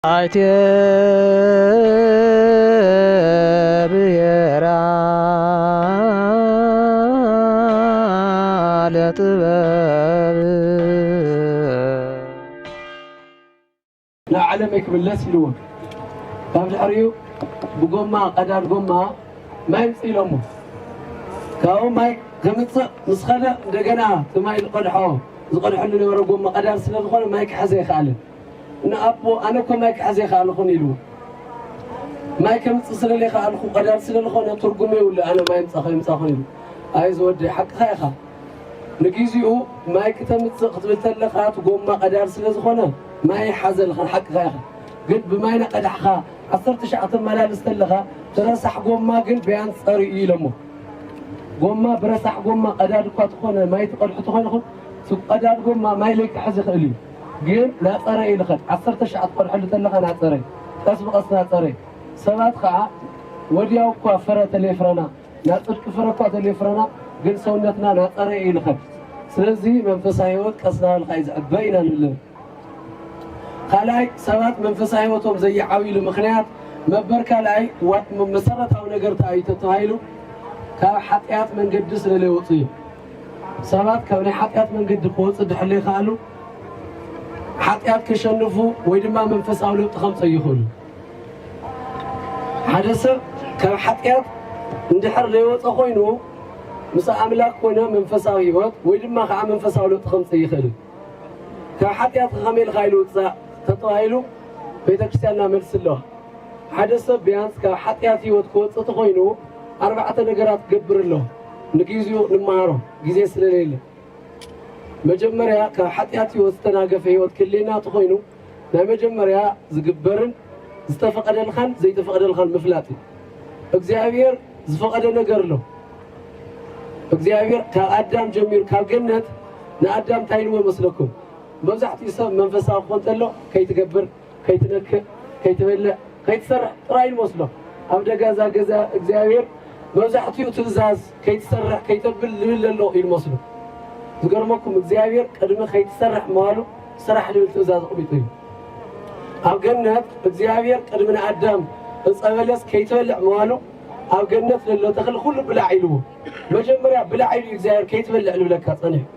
ኣይተ ብሄር ኣለ ጥበብ። ንዓለመይ ክምለስ ኢልዎ ካብ ድሕሪኡ ብጎማ ቀዳድ ጎማ ማይ ኣምጽእ ኢሎሞ ካብኡ ማይ ከምጽእ ምስ ከደ እንደገና እቲ ማይ ዝቀድሖ ዝቀድሐሉ ዝነበረ ጎማ ቀዳድ ስለ ዝኮነ ማይ ክሕዝ ኣይከኣለን ንኣቦ ኣነ እኮ ማይ ክሕዝ ኣይክኣልኹን ኢሉ ማይ ከምፅእ ስለ ዘይክኣልኩ ቀዳድ ስለ ዝኾነ ትርጉም የብሉ ኣነ ማይ ምፃ ከይምፃኹን ኢሉ ኣይ ዝወደይ ሓቅኻ ኢኻ ንግዚኡ ማይ ክተምፅእ ክትብል ተለኻ እቲ ጎማ ቀዳድ ስለ ዝኾነ ማይ ይሓዘልኻን ሓቅኻ ኢኻ ግን ብማይ ናቀዳሕኻ ዓሰርተ ሻዕ ተመላልስ ተለኻ ትረሳሕ ጎማ ግን በያን ፀር እዩ ኢሎሞ ጎማ ብረሳሕ ጎማ ቀዳድ እኳ ተኾነ ማይ ትቐድሑ ተኾይንኹም እቲ ቀዳድ ጎማ ማይ ለይክሕዝ ይኽእል እዩ ግን ናጸረ እዩ ልኸድ ዓሰርተ ሽዓ ትቐድሐሉ ተለኻ ናጸረ ቀስ ብቐስ ናጸረ ሰባት ኸኣ ወድያው እኳ ፍረ ተሌፍረና ናጽድቂ ፍረ እኳ ተሌፍረና ግን ሰውነትና ናጸረ እዩ ልኸድ ስለዚ መንፈሳዊ ህይወት ቀስ ናበልካ እዩ ዝዕበ ኢና ንብል ካልኣይ ሰባት መንፈሳዊ ህይወቶም ዘይዓብይሉ ምክንያት መበር ካልኣይ መሰረታዊ ነገር ተኣዩ ተተባሂሉ ካብ ሓጢኣት መንገዲ ስለለይወፁ እዩ ሰባት ካብ ናይ ሓጢኣት መንገዲ ክወጹ እንድሕር ዘይኸኣሉ፣ ሓጢኣት ከሸንፉ ወይ ድማ መንፈሳዊ ለውጢ ከምጽኡ ኣይኽእሉን። ሓደ ሰብ ካብ ሓጢኣት እንድሕር ዘይወጸ ኮይኑ ምስ ኣምላኽ ኮነ መንፈሳዊ ህይወት ወይ ድማ ከዓ መንፈሳዊ ለውጢ ከምጽእ ኣይኽእልን። ካብ ሓጢኣት ከመይ ኢልካ ኢሉ ውጻእ ተተባሂሉ ቤተ ክርስቲያንና መልሲ ኣለዋ። ሓደ ሰብ ቢያንስ ካብ ሓጢኣት ህይወት ክወጽእ ተኾይኑ ኣርባዕተ ነገራት ክገብር ኣለዎ። ንጊዚኡ ንመሃሮ ጊዜ ስለሌለ መጀመርያ ካብ ሓጢኣት ሕይወት ዝተናገፈ ሕይወት ክህልየና ተኾይኑ ናይ መጀመርያ ዝግበርን ዝተፈቐደልኻን ዘይተፈቐደልኻን ምፍላጥ እዩ። እግዚኣብሔር ዝፈቐደ ነገር ኣሎ። እግዚኣብሔር ካብ ኣዳም ጀሚሩ ካብ ገነት ንኣዳም እንታይ ኢልዎ መስለኩም? መብዛሕትኡ ሰብ መንፈሳዊ ክኾን ተሎ ከይትገብር ከይትነክእ ከይትበልዕ ከይትሰርሕ ጥራይ ንመስሎ ኣብ ደገ እዛ ገዛ እግዚኣብሔር መብዛሕትኡ ትእዛዝ ከይትሰርሕ ከይተብል ዝብል ዘሎ እዩ ንመስሎ ዝገርመኩም እግዚኣብሔር ቅድሚ ከይትሰርሕ ምባሉ ስራሕ ዝብል ትእዛዝ ኣቕሚጡ እዩ ኣብ ገነት እግዚኣብሔር ቅድሚ ንኣዳም ዕፀ በለስ ከይትበልዕ ምባሉ ኣብ ገነት ዘሎ ተኽሊ ኩሉ ብላዕ ኢልዎ መጀመርያ ብላዕ ኢሉ እዩ እግዚኣብሔር ከይትበልዕ ዝብለካ ፀኒሑ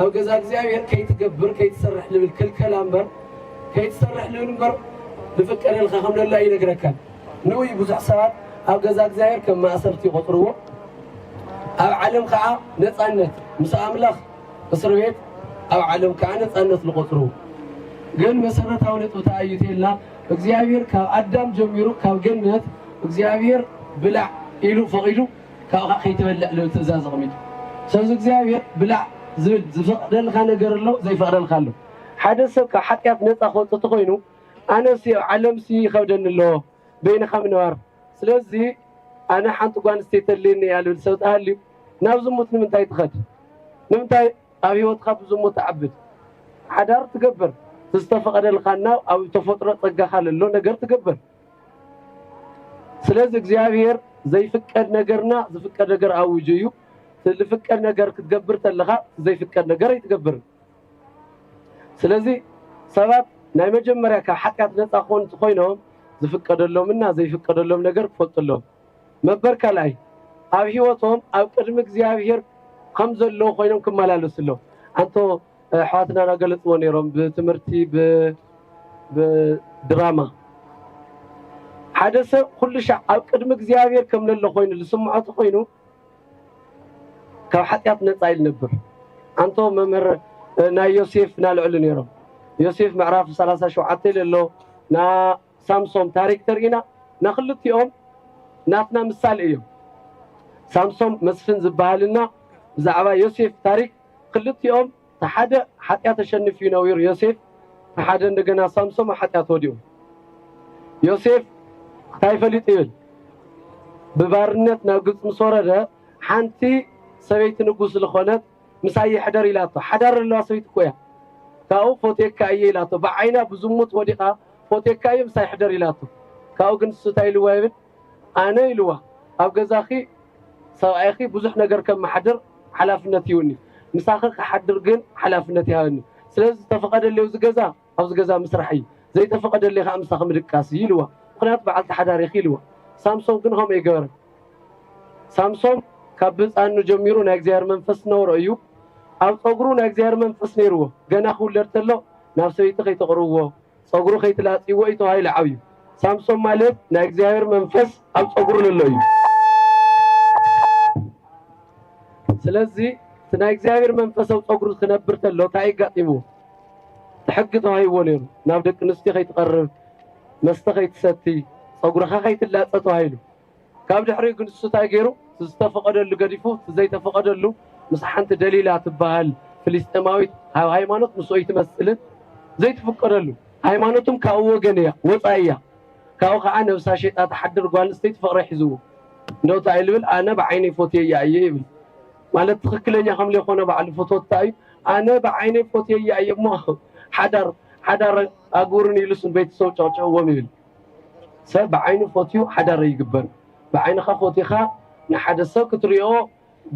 ኣብ ገዛ እግዚኣብሔር ከይትገብር ከይትሰርሕ ልብል ክልከላ እምበር ከይትሰርሕ ልብል እምበር ልፍቀደልካ ከም ለላ ይነግረካ ንኡ እዩ ብዙሕ ሰባት ኣብ ገዛ እግዚኣብሔር ከም ማእሰርቲ ይቆጥርዎ ኣብ ዓለም ከዓ ነፃነት ምስ ኣምላኽ እስር ቤት ኣብ ዓለም ከዓ ነፃነት ዝቆፅርዎ ግን መሰረታዊ ነጥቢ ተኣዩ ተልና እግዚኣብሔር ካብ ኣዳም ጀሚሩ ካብ ገነት እግዚኣብሔር ብላዕ ኢሉ ፈቂዱ ካብኻ ከይትበልዕ ልብል ትእዛዝ ኣቕሚጡ። ስለዚ እግዚኣብሔር ብላዕ ዝብል ዝፈቕደልካ ነገር ኣሎ ዘይፈቕደልካ ኣሎ። ሓደ ሰብ ካብ ሓጢኣት ነፃ ክወፅእ እንተኾይኑ ኣነሲ ኣብ ዓለምሲ ይኸብደኒ ኣሎ በይንኻ ምንባር ስለዚ ኣነ ሓንቲ ጓል ኣንስተይቲ ተድልየኒ እያ ልብል ሰብ ተሃልዩ ናብ ዝሙት ንምንታይ ትኸድ? ንምንታይ ኣብ ህይወትካ ብዝሙት ትዓብድ? ሓዳር ትገብር ዝተፈቐደልካ እና ኣብ ተፈጥሮ ፀጋኻ ለሎ ነገር ትገብር። ስለዚ እግዚኣብሔር ዘይፍቀድ ነገር እና ዝፍቀድ ነገር ኣውጁ እዩ። ዝፍቀድ ነገር ክትገብር ተለኻ ዘይፍቀድ ነገር ኣይትገብርን። ስለዚ ሰባት ናይ መጀመርያ ካብ ሓጢኣት ነፃ ክኾኑ እንተኾይኖም ዝፍቀደሎም እና ዘይፍቀደሎም ነገር ክፈልጡ ኣለዎም። ነበር ካልኣይ ኣብ ሂወቶም ኣብ ቅድሚ እግዚኣብሄር ከም ዘለዉ ኮይኖም ክመላለሱ ኣለዎም ኣንቶ ኣሕዋትና ናገለጽዎ ነይሮም ብትምህርቲ ብድራማ ሓደ ሰብ ኩሉ ሻዕ ኣብ ቅድሚ እግዚኣብሄር ከም ለሎ ኮይኑ ዝስምዖ ተኮይኑ ካብ ሓጢኣት ነጻ ኢሉ ነብር ኣንቶ መምህር ናይ ዮሴፍ ናልዕሉ ነይሮም ዮሴፍ ምዕራፍ 37 ለሎ ና ሳምሶም ታሪክ ተሪኢና ናክልቲኦም ናትና ምሳሌ እዮም ሳምሶም መስፍን ዝባሃል እና ብዛዕባ ዮሴፍ ታሪክ ክልቲኦም ታሓደ ሓጥያት ኣሸንፍ እዩ ነዊሩ ዮሴፍ ታሓደ እንደገና ሳምሶም ኣሓጥያት ወዲቁ ዮሴፍ ታይ ፈሊጡ ይብል ብባርነት ናብ ግብፂ ምስ ወረደ ሓንቲ ሰበይቲ ንጉስ ልኮነት ምሳይ ይሕደር ኢላቶ ሓዳር ለለዋ ሰበይቲ እኮ እያ ካብኡ ፎትየካ እየ ኢላቶ ብዓይና ብዝሙት ወዲቃ ፎቴካ ኢዩ ምሳይ ሕደር ኢላቶ ካብኡ ግን ንሱ ታይ ኢልዋ ይብል ኣነ ኢልዋ ኣብ ገዛኪ ሰብኣይኪ ብዙሕ ነገር ከማሓድር ሓላፍነት ሂቡኒ ምሳኪ ክሓድር ግን ሓላፍነት ይሃበኒ ስለዚ ዝተፈቀደለይ ኣብዚ ገዛ ኣብዚ ገዛ ምስራሕ ኢዩ ዘይተፈቀደለይ ካኣ ምሳኪ ምድቃስ ኢዩ ኢልዋ ምክንያቱ ባዓልቲ ሓዳር ኢኪ ኢልዋ ሳምሶም ግን ከምኡ ኣይገበረን ሳምሶም ካብ ብህጻኑ ጀሚሩ ናይ እግዚኣብሔር መንፈስ ዝነበሮ ኢዩ ኣብ ጸጉሩ ናይ እግዚኣብሔር መንፈስ ነይርዎ ገና ክውለድ ተሎ ናብ ሰበይቲ ከይተቅርብዎ ጸጉሩ ከይትላጽይዎ እዩ ተባሂሉ ዓብዩ። ሳምሶም ማለት ናይ እግዚኣብሔር መንፈስ ኣብ ጸጉሩ ለሎ እዩ። ስለዚ እቲ ናይ እግዚኣብሔር መንፈስ ኣብ ጸጉሩ ክነብር ተሎ እንታይ የጋጢምዎ? ሕጊ ተዋሂብዎ ነይሩ። ናብ ደቂ ኣንስትዮ ከይትቐርብ፣ መስተ ከይትሰቲ፣ ጸጉርኻ ከይትላጸ ተባሂሉ። ካብ ድሕሪኡ ግን እሱ ታይ ገይሩ እቲ ዝተፈቐደሉ ገዲፉ እቲ ዘይተፈቐደሉ ምስ ሓንቲ ደሊላ ትባሀል ፍሊስጤማዊት ብ ሀይማኖት ምስ ኦይትመስልን ዘይትፍቀደሉ ሀይማኖትም ካብኡ ወገን እያ ወፃኢ እያ ካብኡ ካዓ ነብሳ ሸይጣ ትሓድር ጓል ኣንስተይቲ ፍቕሪ ሒዝዎ እንደው ታይ ልብል ኣነ ብዓይነይ ፎትየያ እየ ይብል ማለት ትኽክለኛ ከም ሌይኾነ ባዕሉ ፍትወት ታይ እዩ ኣነ ብዓይነይ ፎትየያ እየ እሞ ሓዳር ሓዳር ኣግብሩኒ ኢሉስ ንቤተሰቡ ጨቕጭቕዎም ይብል ሰብ ብዓይኑ ፎትዩ ሓዳር ኣይግበር ብዓይንኻ ፎቲኻ ንሓደ ሰብ ክትሪኦ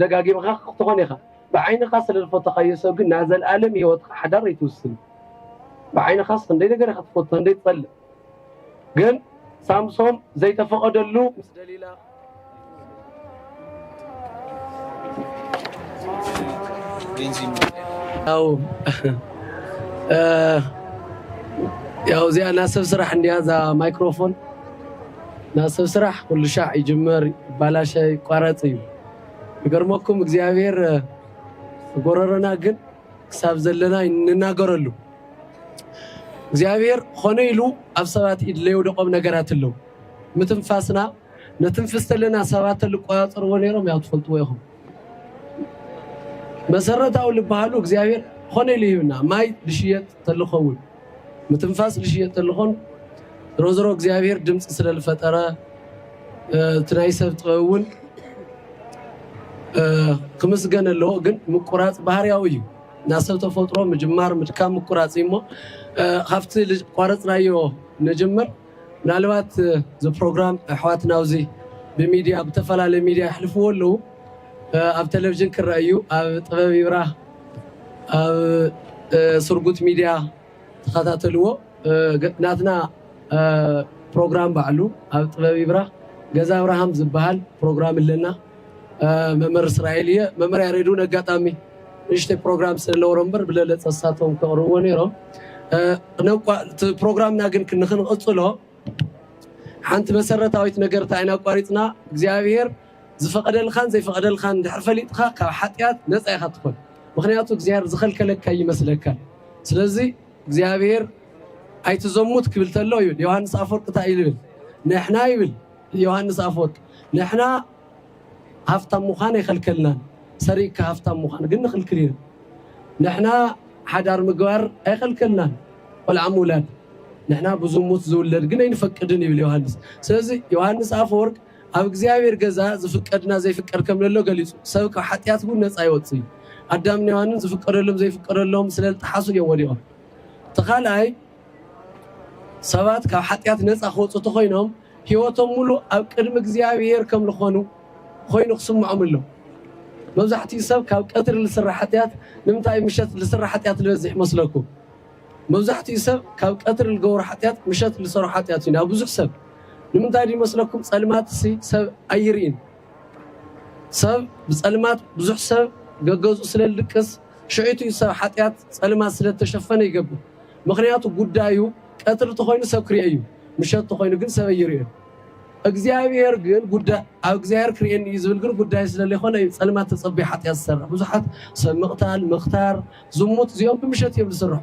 ደጋጊምኻ ክትኾን ኢኻ ብዓይንኻ ስለ ዝፈተኻዮ ሰብ ግን ናይ ዘልኣለም ሂወትኻ ሓዳር ኣይትውስን ብዓይንኻስ ክንደይ ነገር ኢኻ ትፈቱ ክንደይ ትጸልእ ግን ሳምሶም ዘይተፈቐደሉ ምስ ደሊላ ያው እዚኣ ናይ ሰብ ስራሕ እንዲያ እዛ ማይክሮፎን ናይ ሰብ ስራሕ ኩሉ ሻዕ ይጅመር ይባላሸ ይቋረፅ እዩ ይገርመኩም እግዚኣብሔር ጎረረና ግን ክሳብ ዘለና ንናገረሉ እግዚኣብሔር ኾነ ኢሉ ኣብ ሰባት ኢድ ለየውደቆም ነገራት ኣለዉ ምትንፋስና ነትንፍስ ተለና ሰባት ተልቆጻጸርዎ ነሮም ያው ትፈልጥዎ ኢኹም መሰረታዊ ልበሃሉ እግዚኣብሔር ኾነ ኢሉ ሂብና ማይ ልሽየጥ ተልኸውን ምትንፋስ ልሽየጥ ተልኾን ዝሮ ዝሮ እግዚኣብሔር ድምፂ ስለ ልፈጠረ እቲ ናይ ሰብ ጥበብ እውን ክምስገን ኣለዎ ግን ምቁራፅ ባህርያዊ እዩ እና ሰብ ተፈጥሮ ምጅማር ምድካም ምቁራፅ እዩ እሞ ካብቲ ልቋረፅናዮ ንጅምር ምናልባት እዚ ፕሮግራም ኣሕዋትና ኣብዚ ብሚድያ ብተፈላለዩ ሚድያ የሕልፍዎ ኣለዉ ኣብ ቴሌቭዥን ክረኣ እዩ ኣብ ጥበብ ይብራህ ኣብ ስርጉት ሚድያ ተኸታተልዎ ናትና ፕሮግራም ባዕሉ ኣብ ጥበብ ይብራህ ገዛ ኣብርሃም ዝበሃል ፕሮግራም ኣለና መምህር እስራኤል እየ መምህር ያሬድ እውን ኣጋጣሚ ንእሽተይ ፕሮግራም ስለነበሮ እምበር ብለለፀ እሳቶም ከቕርብዎ ነይሮም ፕሮግራምና ግን ንክንቕፅሎ ሓንቲ መሰረታዊት ነገር እንታይ ኢና ኣቋሪፅና እግዚኣብሄር ዝፈቐደልካን ዘይፈቐደልካን እንድሕር ፈሊጥካ ካብ ሓጢኣት ነፃ ኢኻ ትኾን ምክንያቱ እግዚኣብሄር ዝኸልከለካ ይመስለካ ስለዚ እግዚኣብሄር ኣይትዘሙት ክብል ተሎ ይብል ዮሃንስ ኣፈወርቅ እንታይ እዩ ዝብል ንሕና ይብል ዮሃንስ ኣፈወርቅ ንሕና ሃፍታም ምዃን ኣይኸልከልናን ሰሪቅካ ሃፍታም ምዃን ግን ንኽልክል ኢና ንሕና ሓዳር ምግባር ኣይኸልከልናን ቆልዓ ምውላድ ንሕና ብዝሙት ዝውለድ ግን ኣይንፈቅድን ይብል ዮሃንስ ስለዚ ዮሃንስ ኣፈወርቅ ኣብ እግዚኣብሔር ገዛ ዝፍቀድና ዘይፍቀድ ከም ለሎ ገሊጹ ሰብ ካብ ሓጢኣት እውን ነጻ ይወጽእ እዩ ኣዳምን ዮሃንን ዝፍቀደሎም ዘይፍቀደሎም ስለ ዝጠሓሱ እዮም ወዲቖም እቲ ካልኣይ ሰባት ካብ ሓጢኣት ነጻ ክወጹ ተኾይኖም ሕይወቶም ምሉእ ኣብ ቅድሚ እግዚኣብሔር ከም ልኾኑ ኾይኑ ክስምዖም ኣሎ። መብዛሕትኡ ሰብ ካብ ቀትሪ ልስራሕ ሓጢኣት ንምንታይ ምሸት ልስራሕ ሓጢኣት ልበዝሕ ይመስለኩም? መብዛሕትኡ ሰብ ካብ ቀትሪ ልገብሮ ሓጢኣት ምሸት ልሰሮ ሓጢኣት እዩ ናብ ብዙሕ ሰብ። ንምንታይ ድዩ ይመስለኩም? ጸልማትሲ ሰብ ኣይርእን። ሰብ ብጸልማት ብዙሕ ሰብ ገገዝኡ ስለ ልድቅስ ሽዑ'ቲ እዩ ሰብ ሓጥያት ጸልማት ስለ እተሸፈነ ይገብር። ምኽንያቱ ጉዳዩ ቀትሪ ተኾይኑ ሰብ ክርኤ እዩ፣ ምሸት ተኾይኑ ግን ሰብ ኣይርኤን። እግዚኣብሄር ግን ጉዳይ ኣብ እግዚኣብሄር ክርኤኒ እዩ ዝብል ግን ጉዳዩ ስለ ለይኮነ እዩ ጸልማት ተጸብዩ ሓጥያት ዝሰርሕ። ብዙሓት ሰብ ምቕታል፣ ምኽታር፣ ዝሙት እዚኦም ብምሸት እዮም ዝስርሑ።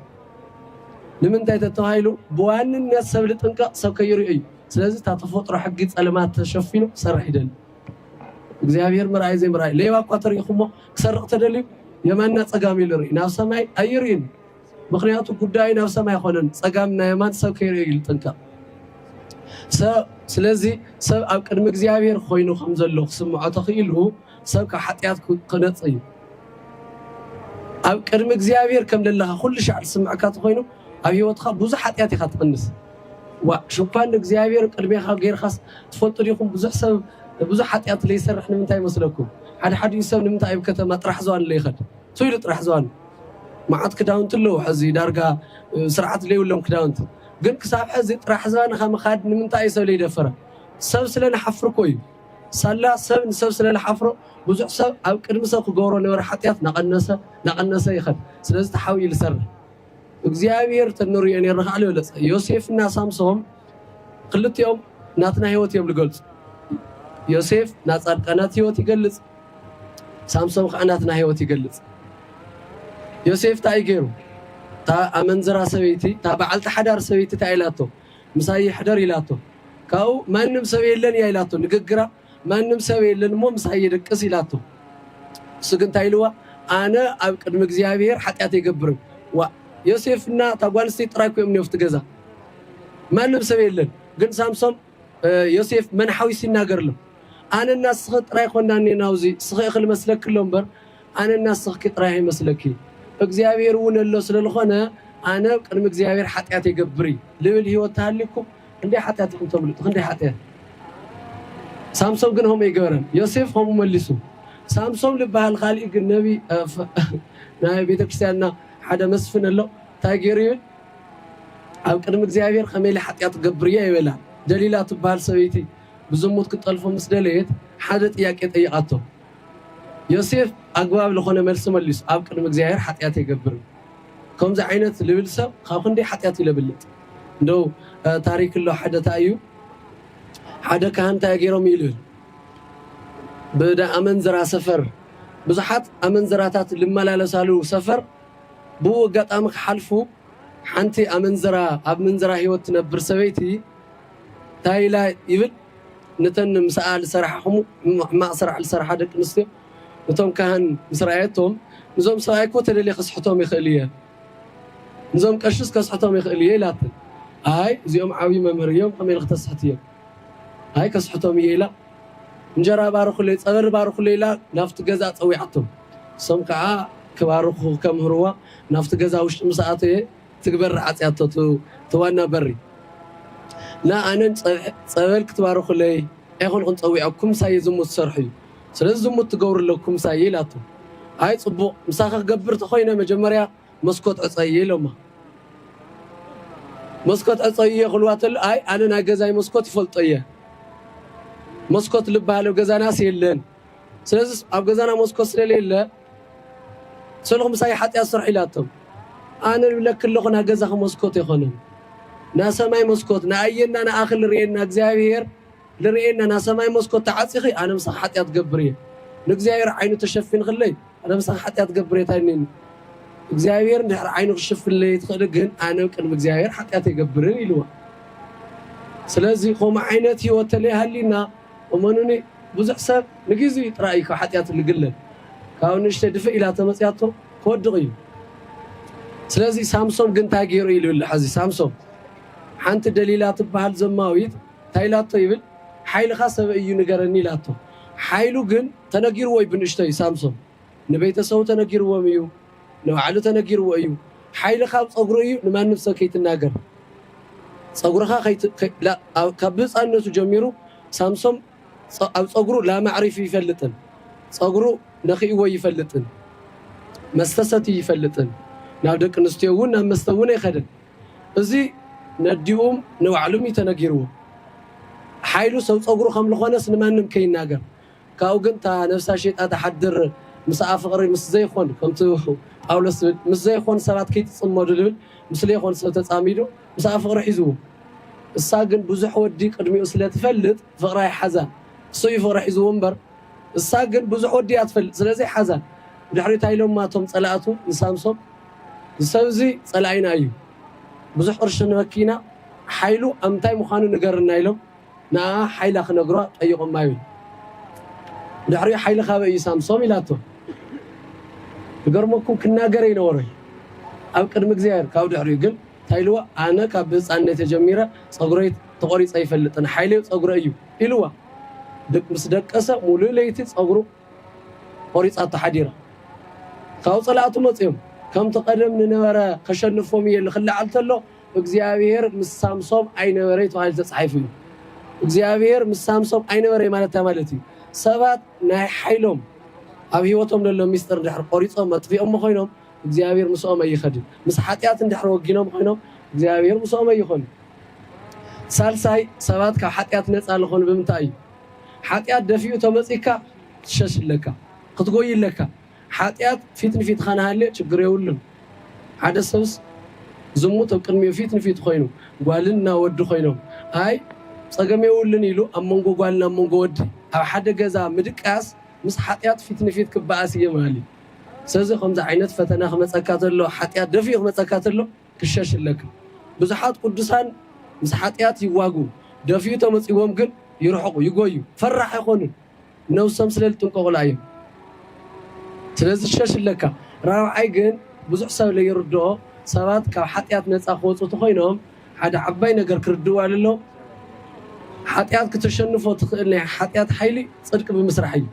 ንምንታይ ተተባሂሉ ብዋንነት ሰብ ልጥንቀቕ ሰብ ከይርኦ እዩ። ስለዚ እታ ተፈጥሮ ሕጊ ጸልማት ተሸፊኑ ክሰርሕ ይደሊ። እግዚኣብሔር ምርኣይ ዘይምርኣይ ሌባ እኳ ተሪኢኹሞ ክሰርቕ ተደልዩ የማንና ፀጋም ኢሉ ይርኢ ናብ ሰማይ ኣይርእን ምክንያቱ ጉዳዩ ናብ ሰማይ ኣይኮነን ፀጋም እና የማን ሰብ ከይርእዮ እዩ ዝጥንቀቕ ስለዚ ሰብ ኣብ ቅድሚ እግዚኣብሔር ኮይኑ ከም ዘሎ ክስምዖ ተኽኢሉ ሰብ ካብ ሓጢኣት ክነፅ እዩ ኣብ ቅድሚ እግዚኣብሔር ከም ዘለኻ ኩሉ ሻዕ ዝስምዐካ ተኮይኑ ኣብ ሂወትካ ብዙሕ ሓጢኣት ኢኻ ትቕንስ ዋእ ሽፋን ንእግዚኣብሔር ቅድሜኻ ገይርኻስ ትፈልጡ ዲኹም ብዙሕ ሰብ ብዙሕ ሓጥያት ለይሰርሕ ንምንታይ ይመስለኩም ሓደ ሓዲኡ ሰብ ንምንታይ ኣብ ከተማ ጥራሕ ዝዋን ለይኸድ ሱብ ኢሉ ጥራሕ ዝዋን መዓት ክዳውንቲ ኣለዉ ሕዚ ዳርጋ ስርዓት ለይብሎም ክዳውንቲ ግን ክሳብ ሕዚ ጥራሕ ዝባንኻ ምኻድ ንምንታይ ሰብ ለይደፈረ ሰብ ስለ ንሓፍር እኮ እዩ ሳላ ሰብ ንሰብ ስለ ዝሓፍሮ ብዙሕ ሰብ ኣብ ቅድሚ ሰብ ክገብሮ ነበረ ሓጥያት ናቐነሰ ናቐነሰ ይኸድ ስለዚ ተሓቢኡ ዝሰርሕ እግዚኣብሔር ተንርእዮ ነይረ ከኣል የብለጸ ዮሴፍ እና ሳምሶም ክልቲኦም ናትና ህይወት እዮም ልገልጹ ዮሴፍ ናጻድቃናት ህይወት ይገልጽ ሳምሶም ከዓ ናትና ህይወት ይገልጽ ዮሴፍ እንታይ ገይሩ እታ ኣመንዝራ ሰበይቲ እታ በዓልቲ ሓዳር ሰበይቲ እንታይ ኢላቶ ምሳይ ይሕደር ኢላቶ ካብኡ ማንም ሰብ የለን እያ ኢላቶ ንግግራ ማንም ሰብ የለን እሞ ምሳይ የደቅስ ኢላቶ። ንሱ ግን እንታይ ኢልዋ? ኣነ ኣብ ቅድሚ እግዚኣብሄር ሓጢኣት ኣይገብርን። ዋእ! ዮሴፍና እታ ጓል ኣንስተይቲ ጥራይ እኮ እዮም እኒኦ ኣብቲ ገዛ። ማንም ሰብ የለን። ግን ሳምሶም ዮሴፍ መን ሓዊሱ ይናገር ኣሎ። ኣነና ንስኺ ጥራይ ኮና እኔና ኣብዚ፣ ንስኺ እኽል መስለኪ ኣሎ እምበር ኣነና ንስኽኪ ጥራይ ኣይመስለኪ። እግዚኣብሄር እውን ኣሎ ስለ ዝኾነ ኣነ ኣብ ቅድሚ እግዚኣብሄር ሓጢኣት ኣይገብር እይ ልብል ህይወት ተሃልዩኩም ክንደይ ሓጢኣት ኢኹም ተምልጡ ክንደይ ሓጢኣት ሳምሶም ግን ሆም ኣይገበረን ዮሴፍ ሆም መሊሱ ሳምሶም ልበሃል ካሊእ ግን ነቢ ናይ ቤተክርስትያንና ሓደ መስፍን ኣሎ እንታይ ገይሩ ይብል ኣብ ቅድሚ እግዚኣብሔር ከመይ ኢለ ሓጢኣት ገብር እየ ይበላ ደሊላ ትበሃል ሰበይቲ ብዝሙት ክጠልፎ ምስ ደለየት ሓደ ጥያቄ ጠየቓቶ ዮሴፍ ኣግባብ ልኾነ መልሲ መሊሱ ኣብ ቅድሚ እግዚኣብሔር ሓጢኣት ኣይገብርን ከምዚ ዓይነት ልብል ሰብ ካብ ክንደይ ሓጢኣት ይለብልጥ እንደው ታሪክ ኣሎ ሓደ ታይ እዩ ሓደ ካህን እንታይ ገይሮም እዩ ልብል ብዳ ኣመንዝራ ሰፈር ብዙሓት ኣመንዝራታት ልመላለሳሉ ሰፈር ብኡ ኣጋጣሚ ክሓልፉ ሓንቲ ኣመንዝራ ኣብ ምንዝራ ህይወት ትነብር ሰበይቲ እንታይ ኢላ ይብል ነተን ምስኣ ልሰርሓ ከምኡ ሕማቕ ስራሕ ልሰርሓ ደቂ ኣንስትዮ ነቶም ካህን ምስ ረኣየቶም፣ ንዞም ሰብኣይ እኮ ተደልየ ከስሕቶም ይኽእል እየ፣ ንዞም ቀሽስ ከስሕቶም ይኽእል እየ ኢላተን። ኣይ እዚኦም ዓብዪ መምህር እዮም ከመይ ኢሊ ክተስሕትዮም? ኣይ ከስሕቶም እየ ኢላ እንጀራ ባርኹለይ፣ ጸበሪ ባርኹለይ ኢላ ናብቲ ገዛ ጸዊዓቶም። እሶም ከኣ ክባርኹ ከምህርዋ ናብቲ ገዛ ውሽጢ ምስ ኣተየ፣ ትግበር ዓጽያቶ እቲ ዋና በሪ እና ኣነን ጸበል ክትባርኹለይ ኣይኮንኹን ጸዊዐኩም ምሳየ ዝሙት ትሰርሑ እዩ ስለዚ ዝሙት ትገብሩ ኣለኩም ምሳየ ኢላቶ ኣይ ጽቡቅ ምሳኺ ክገብር ተኾይነ መጀመርያ መስኮት ዕጸይይ ኢሎማ መስኮት ዕጸይይ ክልዋ ተሎ ኣይ ኣነ ናይ ገዛይ መስኮት ይፈልጦ እየ መስኮት ልባሃል ኣብ ገዛናስ የለን ስለዚ ኣብ ገዛና መስኮት ስለለየለ ሰልኹ ምሳይ ሓጥያት ስርሑ ኢላቶም ኣነ ልብለኪ ኣለኹ ናገዛኺ መስኮት የኾነን ናሰማይ መስኮት ንኣየና ንኣኺ ልርኤና እግዚኣብሔር ልርኤና ናሰማይ መስኮት ተዓፂኺ ኣነ ምሳኺ ሓጥያት ገብር እየ ንእግዚኣብሔር ዓይኑ ተሸፊንኽለይ ኣነ ምሳኺ ሓጥያት ገብር እየ ታይ እኒኒ እግዚኣብሔር እንድሕር ዓይኑ ክሽፍንለይ ትኽእሊ ግን ኣነ ቅድሚ እግዚኣብሔር ሓጥያት ኣይገብርን ኢልዋ ስለዚ ከምኡ ዓይነት ህይወት ተለይሃሊና እመኑኒ ብዙሕ ሰብ ንግዚኡ ጥራይ እዩ ካብ ሓጥያቱ ልግለል ካብኡ ንእሽተይ ድፍእ ኢላ ተመጽያቶ ክወድቅ እዩ ስለዚ ሳምሶም ግን ታይ ጌሩ ኢሉ ኣሎ ሐዚ ሳምሶም ሓንቲ ደሊላ ትብሃል ዘማዊት ታይ ኢላቶ ይብል ሓይልኻ ሰበይ እዩ ንገረኒ ኢላቶ ሓይሉ ግን ተነጊርዎ እዩ ብንእሽተይ ሳምሶም ንቤተሰቡ ተነጊርዎም እዩ ንባዕሉ ተነጊርዎ እዩ ሓይልኻ ኣብ ጸጉሩ እዩ ንማንም ሰብ ከይትናገር ጸጉርኻ ከይት ካብ ብህጻንነቱ ጀሚሩ ሳምሶም ኣብ ጸጉሩ ላማ ኣዕሪፉ ይፈልጥን ጸጉሩ ነኺእዎ ይፈልጥን መስተ ሰትዩ ይፈልጥን ናብ ደቂ ኣንስትዮ እውን ናብ መስተ እውን ኣይኸደን እዚ ነዲኡም ንባዕሉም እዩ ተነጊርዎ ሓይሉ ሰብ ጸጉሩ ከም ዝኾነስ ንማንም ከይናገር ካብኡ ግን እታ ነብሳ ሸይጣ ትሓድር ምሳኣ ፍቅሪ ምስ ዘይኾን ከምቱ ጳውሎስ ዝብል ምስ ዘይኾን ሰባት ክይትጽመዱ ዝብል ምስ ለይኾን ሰብ ተጻሚዱ ምሳኣ ፍቅሪ ሒዝዎ እሳ ግን ብዙሕ ወዲ ቅድሚኡ ስለ ትፈልጥ ፍቅሪ ኣይሓዛን እሱ እዩ ፍቅሪ ሒዝዎ እምበር እሳ ግን ብዙሕ ወዲ እያ ትፈልጥ ስለዚ ሓዛን ብድሕሪኡ ታይ ኢሎማ እቶም ጸላእቱ ንሳምሶም ዝሰብ እዚ ጸላኢና እዩ ብዙሕ ቅርሺ ንበኪ ኢና ሓይሉ ኣብ ምንታይ ምዃኑ ንገርና ኢሎም ንኣኣ ሓይላ ክነግሯ ጠይቖማ ይብል። ብድሕሪኡ ሓይሊ ካበይ እዩ ሳምሶም ኢላቶ። ክገርመኩም ክናገር ኣይነበሮ እዩ ኣብ ቅድሚ እግዚኣብሔር ካብኡ ድሕሪኡ ግን እንታይ ኢልዋ ኣነ ካብ ብህፃንነተይ ጀሚረ ፀጉረይ ተቖሪፀ ኣይፈልጥን ሓይለይ ፀጉረ እዩ ኢልዋ። ድቅ ምስ ደቀሰ ሙሉእ ለይቲ ፀጉሩ ቆሪፃቶ ሓዲራ። ካብኡ ፀላእቱ መፅዮም ከምቲ ቀደም ንነበረ ከሸንፎም እየ ኢሉ ክለዓል ተሎ እግዚኣብሄር ምስ ሳምሶም ኣይነበረይ ተባሂሉ ተጻሒፉ እዩ። እግዚኣብሄር ምስ ሳምሶም ኣይነበረይ ማለት እንታይ ማለት እዩ? ሰባት ናይ ሓይሎም ኣብ ህይወቶም ዘሎ ሚስጥር እንድሕር ቆሪጾም ኣጥፊኦሞ ኮይኖም እግዚኣብሄር ምስኦም ኣይኸድን። ምስ ሓጢኣት እንድሕር ወጊኖም ኮይኖም እግዚኣብሄር ምስኦም ኣይኾን። ሳልሳይ ሰባት ካብ ሓጢኣት ነጻ ልኾኑ ብምንታይ እዩ? ሓጢኣት ደፊኡ ተመጺካ ትሸሽ ኣለካ፣ ክትጎይ ኣለካ። ሓጢኣት ፊት ንፊትካ ንሃልዮ ችግር የብሉን ሓደ ሰብስ ዝሙት ኣብ ቅድሚኡ ፊት ንፊቱ ኮይኑ ጓልን እና ወዲ ኮይኖም ኣይ ፀገም የብሉን ኢሉ ኣብ መንጎ ጓልን ኣብ መንጎ ወዲ ኣብ ሓደ ገዛ ምድቃስ ምስ ሓጢኣት ፊት ንፊት ክበኣስ እዬ ምሃሊ ሰዚ ከምዚ ዓይነት ፈተና ክመፀካ ተሎ ሓጢኣት ደፊኡ ክመፀካ ተሎ ክሸሽ እለካ ብዙሓት ቁዱሳን ምስ ሓጢኣት ይዋግኡ ደፊኡ ተመፂዎም ግን ይርሕቁ ይጎዩ ፈራሕ ኣይኮኑን ነብሶም ስለ ልጥንቀቁላ ኢዩ ስለዚ ሸሽ እለካ ራብዓይ ግን ብዙሕ ሰብ ለይርድኦ ሰባት ካብ ሓጥያት ነጻ ክወጹ ተኮይኖም ሓደ ዓባይ ነገር ክርድእዋ ለሎም ሓጥያት ክተሸንፎ ትክእል ናይ ሓጥያት ሓይሊ ጽድቂ ብምስራሕ ኢዩ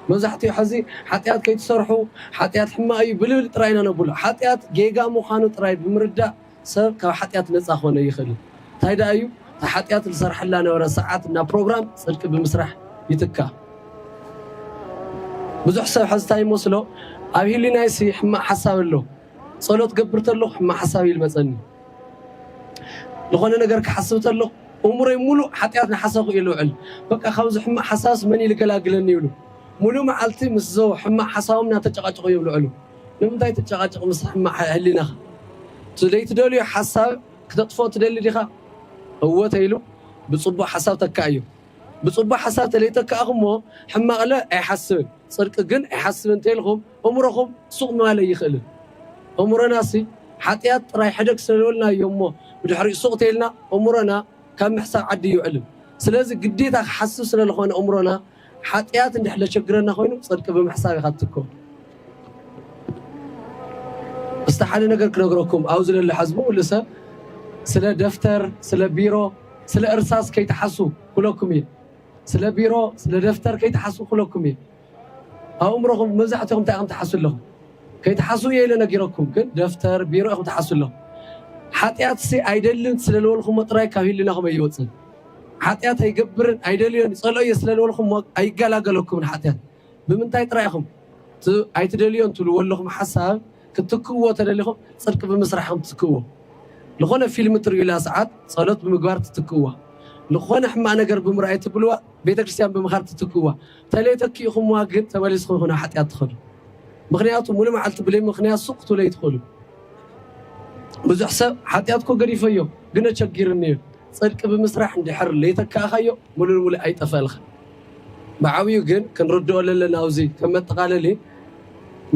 መብዛሕቲኡ ሐዚ ሓጥያት ከይትሰርሑ ሓጥያት ሕማቅ ኢዩ ብልብል ጥራይ ኢና ነብሎ ሓጥያት ጌጋ ምካኑ ጥራይ ብምርዳእ ሰብ ካብ ሓጢኣት ነጻ ክኾነ ኣይኽእልን። እንታይ ደኣ እዩ? እታ ሓጢኣት ዝሰርሓላ ነበረ ሰዓት እና ፕሮግራም ጽድቂ ብምስራሕ ይትካእ። ብዙሕ ሰብ ሕዚ እንታይ ይመስሎ፣ ኣብ ህሊናይሲ ሕማቕ ሓሳብ ኣሎ፣ ጸሎት ክገብር ከለኹ ሕማቕ ሓሳብ እዩ ዝመጸኒ፣ ዝኾነ ነገር ክሓስብ ከለኹ እምሮይ ምሉእ ሓጢኣት እናሓሰብኩ እዩ ዝውዕል፣ በቃ ካብዚ ሕማቕ ሓሳብስ መን እዩ ዝገላግለኒ ይብሉ። ምሉእ መዓልቲ ምስዞ ሕማቕ ሓሳቦም እናተጨቓጨቑ እዮም ዝውዕሉ። ንምንታይ ትጨቓጨቕ ምስ ሕማቕ ሕሊናኻ? እቲ ዘይትደልዮ ሓሳብ ክተጥፍኦ ትደሊ ዲኻ? እወ ተይሉ ብጽቡቕ ሓሳብ ተካኣዮ። ብጽቡቕ ሓሳብ ተለይተካእኩሞ ሕማቕለ ኣይሓስብን ጽድቂ ግን ኣይሓስብን ተይልኩም እምሮኹም ሱቕ ምባል ኣይኽእልን። እምሮናሲ ሓጥያት ጥራይ ሕደግ ስለዝበልናዮሞ ብድሕሪኡ ሱቕ ተይልና እምሮና ካብ ምሕሳብ ዓዲ ኣይውዕልን። ስለዚ ግዴታ ክሓስብ ስለዝኾነ እምሮና ሓጥያት እንድሕር ለቸግረና ኮይኑ ጽድቂ ብምሕሳብ ኢኻ ትትክኦ። እስቲ ሓደ ነገር ክነግረኩም ኣብዚ ለሎ ሕዝቢ ኩሉ ሰብ ስለ ደፍተር ስለ ቢሮ ስለ እርሳስ ከይትሓሱ ኩለኩም እየ ስለ ቢሮ ስለ ደፍተር ከይትሓሱ ኩለኩም እየ ኣብ እምሮኹም መብዛሕትኹም እንታይ ኢኹም ትሓሱ ኣለኹም ከይትሓሱ እየ ኢለ ነጊረኩም ግን ደፍተር ቢሮ ኢኹም ትሓሱ ኣለኹም ሓጢኣትሲ ኣይደልን ስለልበልኩሞ ጥራይ ካብ ህልናኹም ኣይወፅን ሓጢኣት ኣይገብርን ኣይደልዮን ይጸልኦ እየ ስለ ዝበልኩሞ ኣይገላገለኩምን ሓጢኣት ብምንታይ ጥራይ ኢኹም እቲ ኣይትደልዮን ትብልዎ ኣለኹም ሓሳብ ክትክእዎ ተደሊኹም ጽድቂ ብምስራሕ ኢኹም ትትክእዎ ዝኾነ ፊልም ትርእዩላ ሰዓት ጸሎት ብምግባር ትትክእዋ ዝኾነ ሕማቅ ነገር ብምርኣይ ትብልዋ ቤተክርስትያን ብምኻድ ትትክእዋ ተለይ ተኪኢኹምዋ ግን ተመሊስኹም ኢኹም ናብ ሓጢኣት ትኸዱ ምክንያቱ ሙሉ መዓልቲ ብለይ ምክንያት ሱቅ ክትብሉ ኣይትኽእሉ ብዙሕ ሰብ ሓጢኣት እኮ ገዲፈዮ ግን ኣቸጊርኒ እዩ ጽድቂ ብምስራሕ እንድሕር ለይተካእካዮ ሙሉ ንሙሉ ኣይጠፈእልካን ብዓብዩ ግን ክንርድኦ ለለና ኣውዚ ከም መጠቃለሊ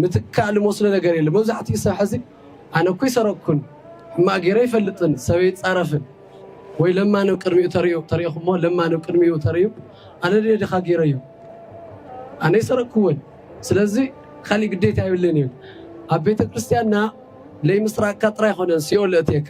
ምትካእ ልመስሎ ነገር የለን መብዛሕትኡ ሰብ ሕዚ ኣነ እኮ ኣይሰረቅኩን ሕማቅ ገይረ ኣይፈልጥን ሰብ ኣይጻረፍን ወይ ለማኒ ኣብ ቅድሚኡ ተሪኡ ተሪእኹሞ ለማኒ ኣብ ቅድሚኡ ተሪኡ ኣነ ድየ ድኻ ገይረዮ ኣነ ኣይሰረቅኩዎን ስለዚ ካሊእ ግዴታ የብለይን ይብል ኣብ ቤተክርስትያንና ለይምስራቅካ ጥራይ ኣይኮነን ሲኦል ለእትየካ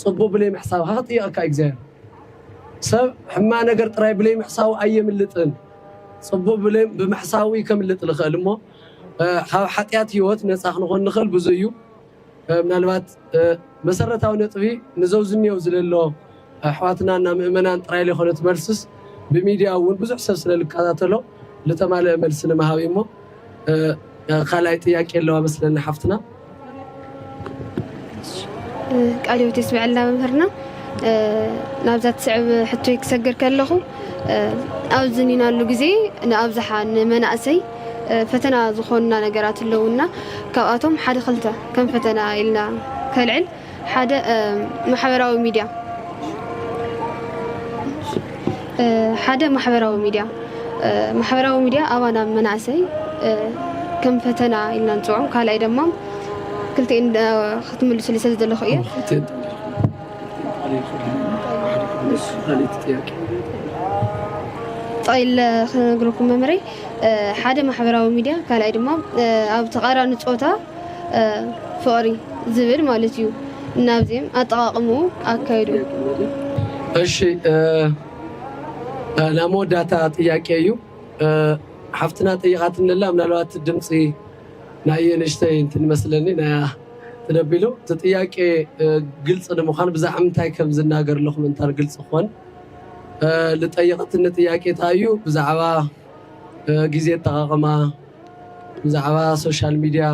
ጽቡቅ ብለይ ምሕሳብ ሃጥይኣካ እግዚኣብሔር ሰብ ሕማቅ ነገር ጥራይ ብለይ ምሕሳቡ ኣየምልጥን ጽቡቅ ብለይ ብምሕሳቡ እዩ ከምልጥ ልክእል እሞ ካብ ሓጥያት ህይወት ነጻ ክንኾን ንክእል ብዙ እዩ ምናልባት መሰረታዊ ነጥቢ ንዘውዝኒዮው ዝለሎ ኣሕዋትና እና ምእመናን ጥራይ ለይኮነት መልስስ ብሚድያ እውን ብዙሕ ሰብ ስለልከታተሎ ልተማለእ መልሲ ንምሃብ እዩሞ ካልኣይ ጥያቄ ኣለዋ መስለኒ ሓፍትና። ቃለ ህይወት የስመዐልና መምህርና ናብዛ ትስዕብ ሕቶይ ክሰግር ከለኹ ኣብዚ ኒናሉ ግዜ ንኣብዝሓ ንመናእሰይ ፈተና ዝኾኑና ነገራት ኣለውና ካብኣቶም ሓደ ክልተ ከም ፈተና ኢልና ከልዕል ሓደ ማሕበራዊ ሚድያ ሓደ ማሕበራዊ ሚድያ ማሕበራዊ ሚድያ ኣባና መናእሰይ ከም ፈተና ኢልና ንፅውዖም ካልኣይ ድማ ክልተ ክትምልሱሉ ስለ ዘለኹ እየ ጠይለ ክነግረኩም መምረይ ሓደ ማሕበራዊ ሚድያ ካልኣይ ድማ ኣብ ተቃራኒ ፆታ ፍቕሪ ዝብል ማለት እዩ ናብ ዜም ኣጠቓቕምኡ ኣካይድኡ። እሺ ናይ መወዳእታ ጥያቄ እዩ ሓፍትና ጠይቓትኒ ኣላ ምናልባት ድምፂ ናይ ንእሽተይ እንትን መስለኒ ናይ እንትን ኣቢሉ እቲ ጥያቄ ግልፂ ንምዃን ብዛዕባ ምንታይ ከም ዝናገር ኣለኹ ምእንታን ግልፂ ክኾን ዝጠየቐትኒ ጥያቄ እንታይ እዩ ብዛዕባ ግዜ ኣጠቓቕማ፣ ብዛዕባ ሶሻል ሚድያ፣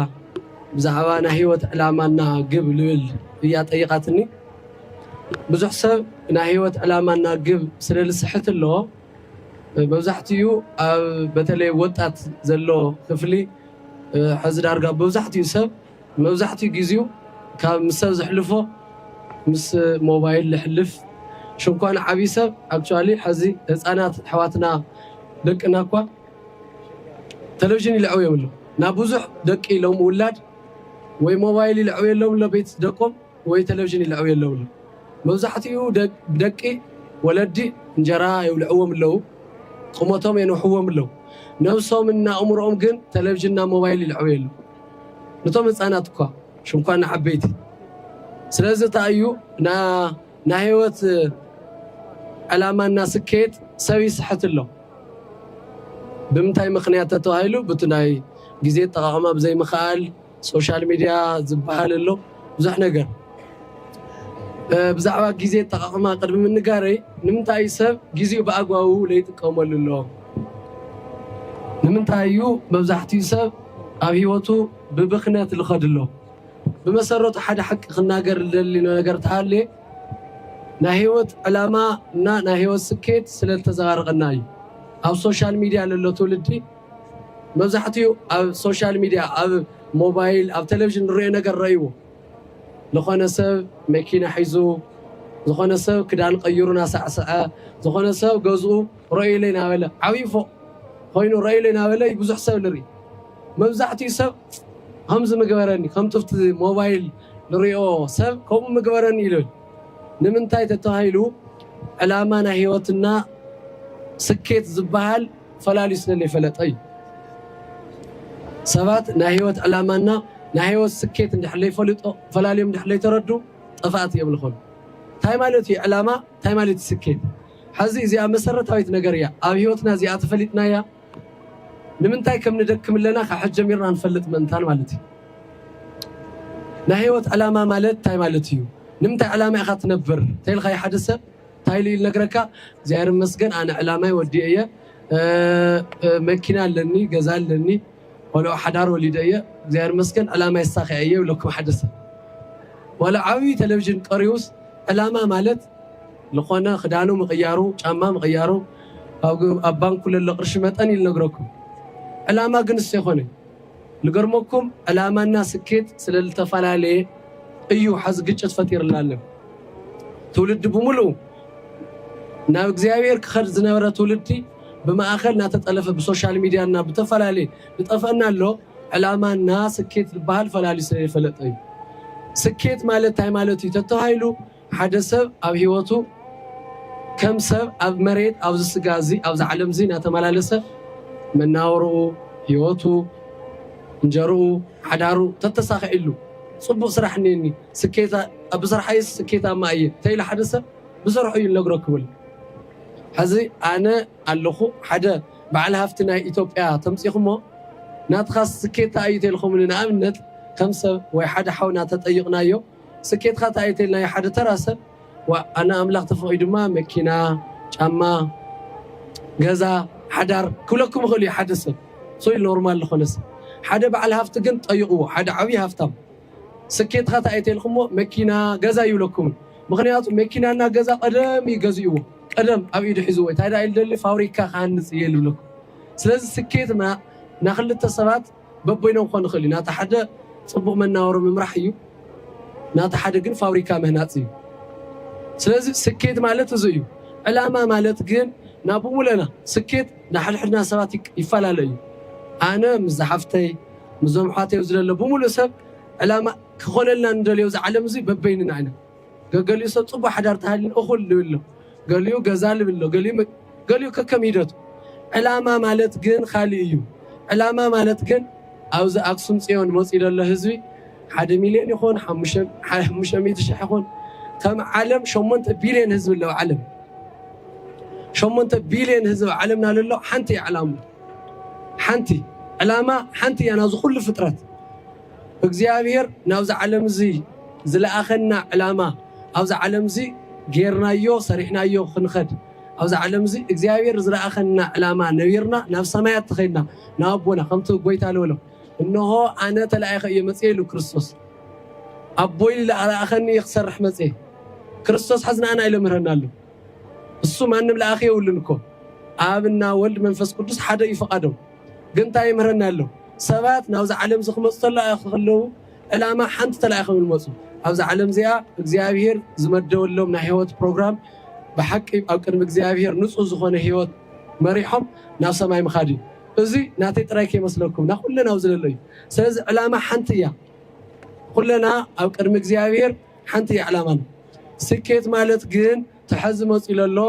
ብዛዕባ ናይ ህይወት ዕላማ እና ግብ ልብል እያ ጠይቓትኒ። ብዙሕ ሰብ ናይ ህይወት ዕላማ እና ግብ ስለ ልስሕት ኣሎ መብዛሕትኡ ኣብ በተለይ ወጣት ዘሎ ክፍሊ ሕዚ ዳርጋ መብዛሕትኡ ሰብ መብዛሕትኡ ጊዚኡ ካብ ምስ ሰብ ዘሕልፎ ምስ ሞባይል ለሕልፍ ሽንኳን ዓብይ ሰብ ኣክቹዋሊ ሐዚ ህፃናት ኣሕዋትና ደቅና እኳ ተለቭዥን ይልዐውዮም ኣሎ ናብ ብዙሕ ደቂ ሎም ውላድ ወይ ሞባይል ይልዐውየሎም ኣሎ ቤት ደቆም ወይ ተለቭዥን ይልዐውየሎም ኣሎ መብዛሕትኡ ደቂ ወለዲ እንጀራ የብልዕዎም ኣለው ቁመቶም የንውሕዎም ኣለው ነብሶም እና ኣእምሮኦም ግን ተለቭዥን እና ሞባይል ይልዐውየሎም ንቶም ህፃናት እኳ ሽምኳ ንዓበይቲ ስለዚ እንታይ እዩ ናይ ህይወት ዕላማና ስኬት ሰብ ይስሕት ኣሎ ብምንታይ ምክንያት ተተባሂሉ ብቲ ናይ ግዜ ኣጠቃቅማ ብዘይምክኣል ሶሻል ሚድያ ዝበሃል ኣሎ ብዙሕ ነገር ብዛዕባ ግዜ ኣጠቓቕማ ቅድሚ ምንጋረይ ንምንታይ እዩ ሰብ ግዜኡ ብኣግባቡ ለይጥቀመሉ ኣሎ? ንምንታይ እዩ መብዛሕትኡ ሰብ ኣብ ህይወቱ ብብኽነት ልኸድ ኣሎ? ብመሰረቱ ሓደ ሓቂ ክናገር ልደሊ ነገር ተሃልየ ናይ ህይወት ዕላማ እና ናይ ህይወት ስኬት ስለ ልተዘባረቐና እዩ። ኣብ ሶሻል ሚድያ ለሎ ትውልዲ መብዛሕትኡ ኣብ ሶሻል ሚድያ ኣብ ሞባይል ኣብ ቴሌቭዥን ንሪኦ ነገር ረእይዎ ዝኾነ ሰብ መኪና ሒዙ ዝኾነ ሰብ ክዳን ቀይሩ ናሳዕስዐ ዝኾነ ሰብ ገዝኡ ረእዩለይ ናበለ ዓብዪ ፎቕ ኮይኑ ረእዩለይ ናበለ እዩ ብዙሕ ሰብ ንርኢ መብዛሕትኡ ሰብ ከምዚ ምግበረኒ ከምቲ ኣብቲ ሞባይል ንሪኦ ሰብ ከምኡ ምግበረኒ ይብል ንምንታይ ተተባሂሉ ዕላማ ናይ ህይወትና ስኬት ዝበሃል ፈላልዩ ስለ ለይፈለጠ እዩ። ሰባት ናይ ህይወት ዕላማ እና ናይ ህይወት ስኬት እንድሕር ለይፈሉጦ ፈላልዮም እንድሕር ለይተረዱ ጠፋእቲ እዮም ልኾኑ። እንታይ ማለት እዩ ዕላማ እንታይ ማለት እዩ ስኬት? ሐዚ እዚኣ መሰረታዊት ነገር እያ ኣብ ህይወትና እዚኣ ተፈሊጥናያ ንምንታይ ከም ንደክም ኣለና ካብ ሕጂ ጀሚርና ንፈልጥ ምእንታን ማለት እዩ። ናይ ህይወት ዕላማ ማለት እንታይ ማለት እዩ? ንምንታይ ዕላማ ኢኻ ትነብር? ተይልኻዮ ሓደ ሰብ ታይ ኢሉ እዩ ልነግረካ እግዚኣብሔር ይመስገን ኣነ ዕላማይ ወዲኤ እየ መኪና ኣለኒ ገዛ ኣለኒ ቆልዑ ሓዳር ወሊደ እየ እግዚኣብሔር ይመስገን ዕላማይ ኣሳኪዐ እየ ይብለኩም ሓደ ሰብ ዋላ ዓብይ ቴሌቭዥን ቀሪቡስ ዕላማ ማለት ልኾነ ክዳኑ ምቅያሩ ጫማ ምቅያሩ ኣብ ባንኩ ለሎ ቅርሺ መጠን እዩ ልነግረኩም ዕላማ ግን እሱ ኣይኮነን ልገርመኩም ዕላማና ስኬት ስለልተፈላለየ እዩ ሐዚ ግጭት ፈጢርልና ኣሎ ትውልዲ ብሙሉኡ ናብ እግዚኣብሔር ክኸድ ዝነበረ ትውልዲ ብማእኸል ናተጠለፈ ብሶሻል ሚድያ እና ብተፈላለየ ልጠፈእና ኣሎ ዕላማ እና ስኬት ልባሃል ፈላልዩ ስለይፈለጠ እዩ ስኬት ማለት ታይ ማለት እዩ ተተባሂሉ ሓደ ሰብ ኣብ ህይወቱ ከም ሰብ ኣብ መሬት ኣብዚ ስጋ እዚ ኣብዛ ዓለም እዚ እናተመላለሰ መናውርኡ ህይወቱ እንጀርኡ ሓዳሩ ተተሳኺዕሉ ፅቡቅ ስራሕ እኒኒ ስኬታ ኣብ ስርሓይስ ስኬታማ እየ ተይሉ ሓደ ሰብ ብስርሑ እዩ እነግረኩምል ሕዚ ኣነ ኣለኹ ሓደ በዓል ሃፍቲ ናይ ኢትዮጵያ ተምፂኹሞ ናትኻስ ስኬታ እዩ ተልኹምኒ ንኣብነት ከም ሰብ ወይ ሓደ ሓውና ተጠይቕናዮ ስኬትካ ታይ እዩ ተይልናዮ ሓደ ተራ ሰብ ዋእ ኣነ ኣምላክ ተፈቂዱማ መኪና ጫማ ገዛ ሓዳር ክብለኩም ይክእል እዩ ሓደ ሰብ ሶይ ኖርማል ልኮነ ሰብ ሓደ ባዓል ሃፍቲ ግን ጠይቅዎ ሓደ ዓብይ ሃፍታም ስኬትካ ታይ እዩ ተይልክሞ መኪና ገዛ ኣይብለኩምን ምክንያቱ መኪና እና ገዛ ቀደም እዩ ገዚእዎ ቀደም ኣብ ኢዱ ሒዝዎ ታይ ዳኣ ኢዩ ልደሊ ፋብሪካ ክሃንፅ እየ ልብለኩም ስለዚ ስኬትና ናክልተ ሰባት በበይኖም ክኾን ይኽእል እዩ ናቲ ሓደ ጽቡቕ መናወሪ ምምራሕ እዩ ናቲ ሓደ ግን ፋብሪካ ምህናጽ እዩ ስለዚ ስኬት ማለት እዚ እዩ ዕላማ ማለት ግን ናብ ውለና ስኬት ንሓድሕድና ሰባት ይፈላለ እዩ ኣነ ምስ ዝሓፍተይ ምስዞም ኣሕዋተይ ዝለለ ብምሉእ ሰብ ዕላማ ክኾነልና ንደልዮ እዚ ዓለም እዚ በበይንና ኢና ገገሊኡ ሰብ ጽቡቕ ሓዳር ተሃልዩ እኹል ልብል ኣሎ፣ ገሊኡ ገዛ ልብል ኣሎ፣ ገሊኡ ገሊኡ ከከም ሂደቱ። ዕላማ ማለት ግን ካልእ እዩ። ዕላማ ማለት ግን ኣብዚ ኣክሱም ጽዮን መጽዩ ዘሎ ህዝቢ ሓደ ሚልዮን ይኹን ሓሙሽተ ሚእቲ ሽሕ ይኹን ከም ዓለም ሸሞንተ ቢልዮን ህዝቢ ኣለዎ ዓለም ሸሞንተ ቢልዮን ህዝቢ ዓለምና ዘሎ ሓንቲ ዕላማ ሓንቲ ዕላማ ሓንቲ እያ ናዚ ኩሉ ፍጥረት እግዚኣብሔር ናብዚ ዓለም እዚ ዝለኣኸና ዕላማ ኣብዚ ዓለም እዚ ጌርናዮ ሰሪሕናዮ ክንኸድ ኣብዚ ዓለም እዚ እግዚኣብሔር ዝለኣኸና ዕላማ ነቢርና ናብ ሰማያት ተኸድና ናብ ኣቦና ከምቲ ጎይታ ልበሎ እንሆ ኣነ ተላኢኸ እየ መጽየ ኢሉ ክርስቶስ ኣቦይ ዝለኣኸኒ እየ ክሰርሕ መጽየ ክርስቶስ ሕዚ ንኣና ይለምህረና ኣሎ እሱ ማንም ለኣኺ የብሉን እኮ ኣብና ወልድ መንፈስ ቅዱስ ሓደ እዩ ፈቓዶም ግን ታይ ይምህረና ኣሎ ሰባት ናብዛ ዓለምዚ ክመጹ ተላኢኽ ከለዉ ዕላማ ሓንቲ ተላኢኾም እዮም ዝመጹ ኣብዛ ዓለም እዚኣ እግዚኣብሄር ዝመደበሎም ናይ ሂወት ፕሮግራም ብሓቂ ኣብ ቅድሚ እግዚኣብሄር ንጹህ ዝኾነ ሂወት መሪሖም ናብ ሰማይ ምኻድ እዩ እዚ ናተይ ጥራይ ከይመስለኩም ናይ ኩለን ኣብዚ ዘሎ እዩ ስለዚ ዕላማ ሓንቲ እያ ኩለና ኣብ ቅድሚ እግዚኣብሄር ሓንቲ እያ ዕላማና ስኬት ማለት ግን ተሐዚ መጺኡ ለሎ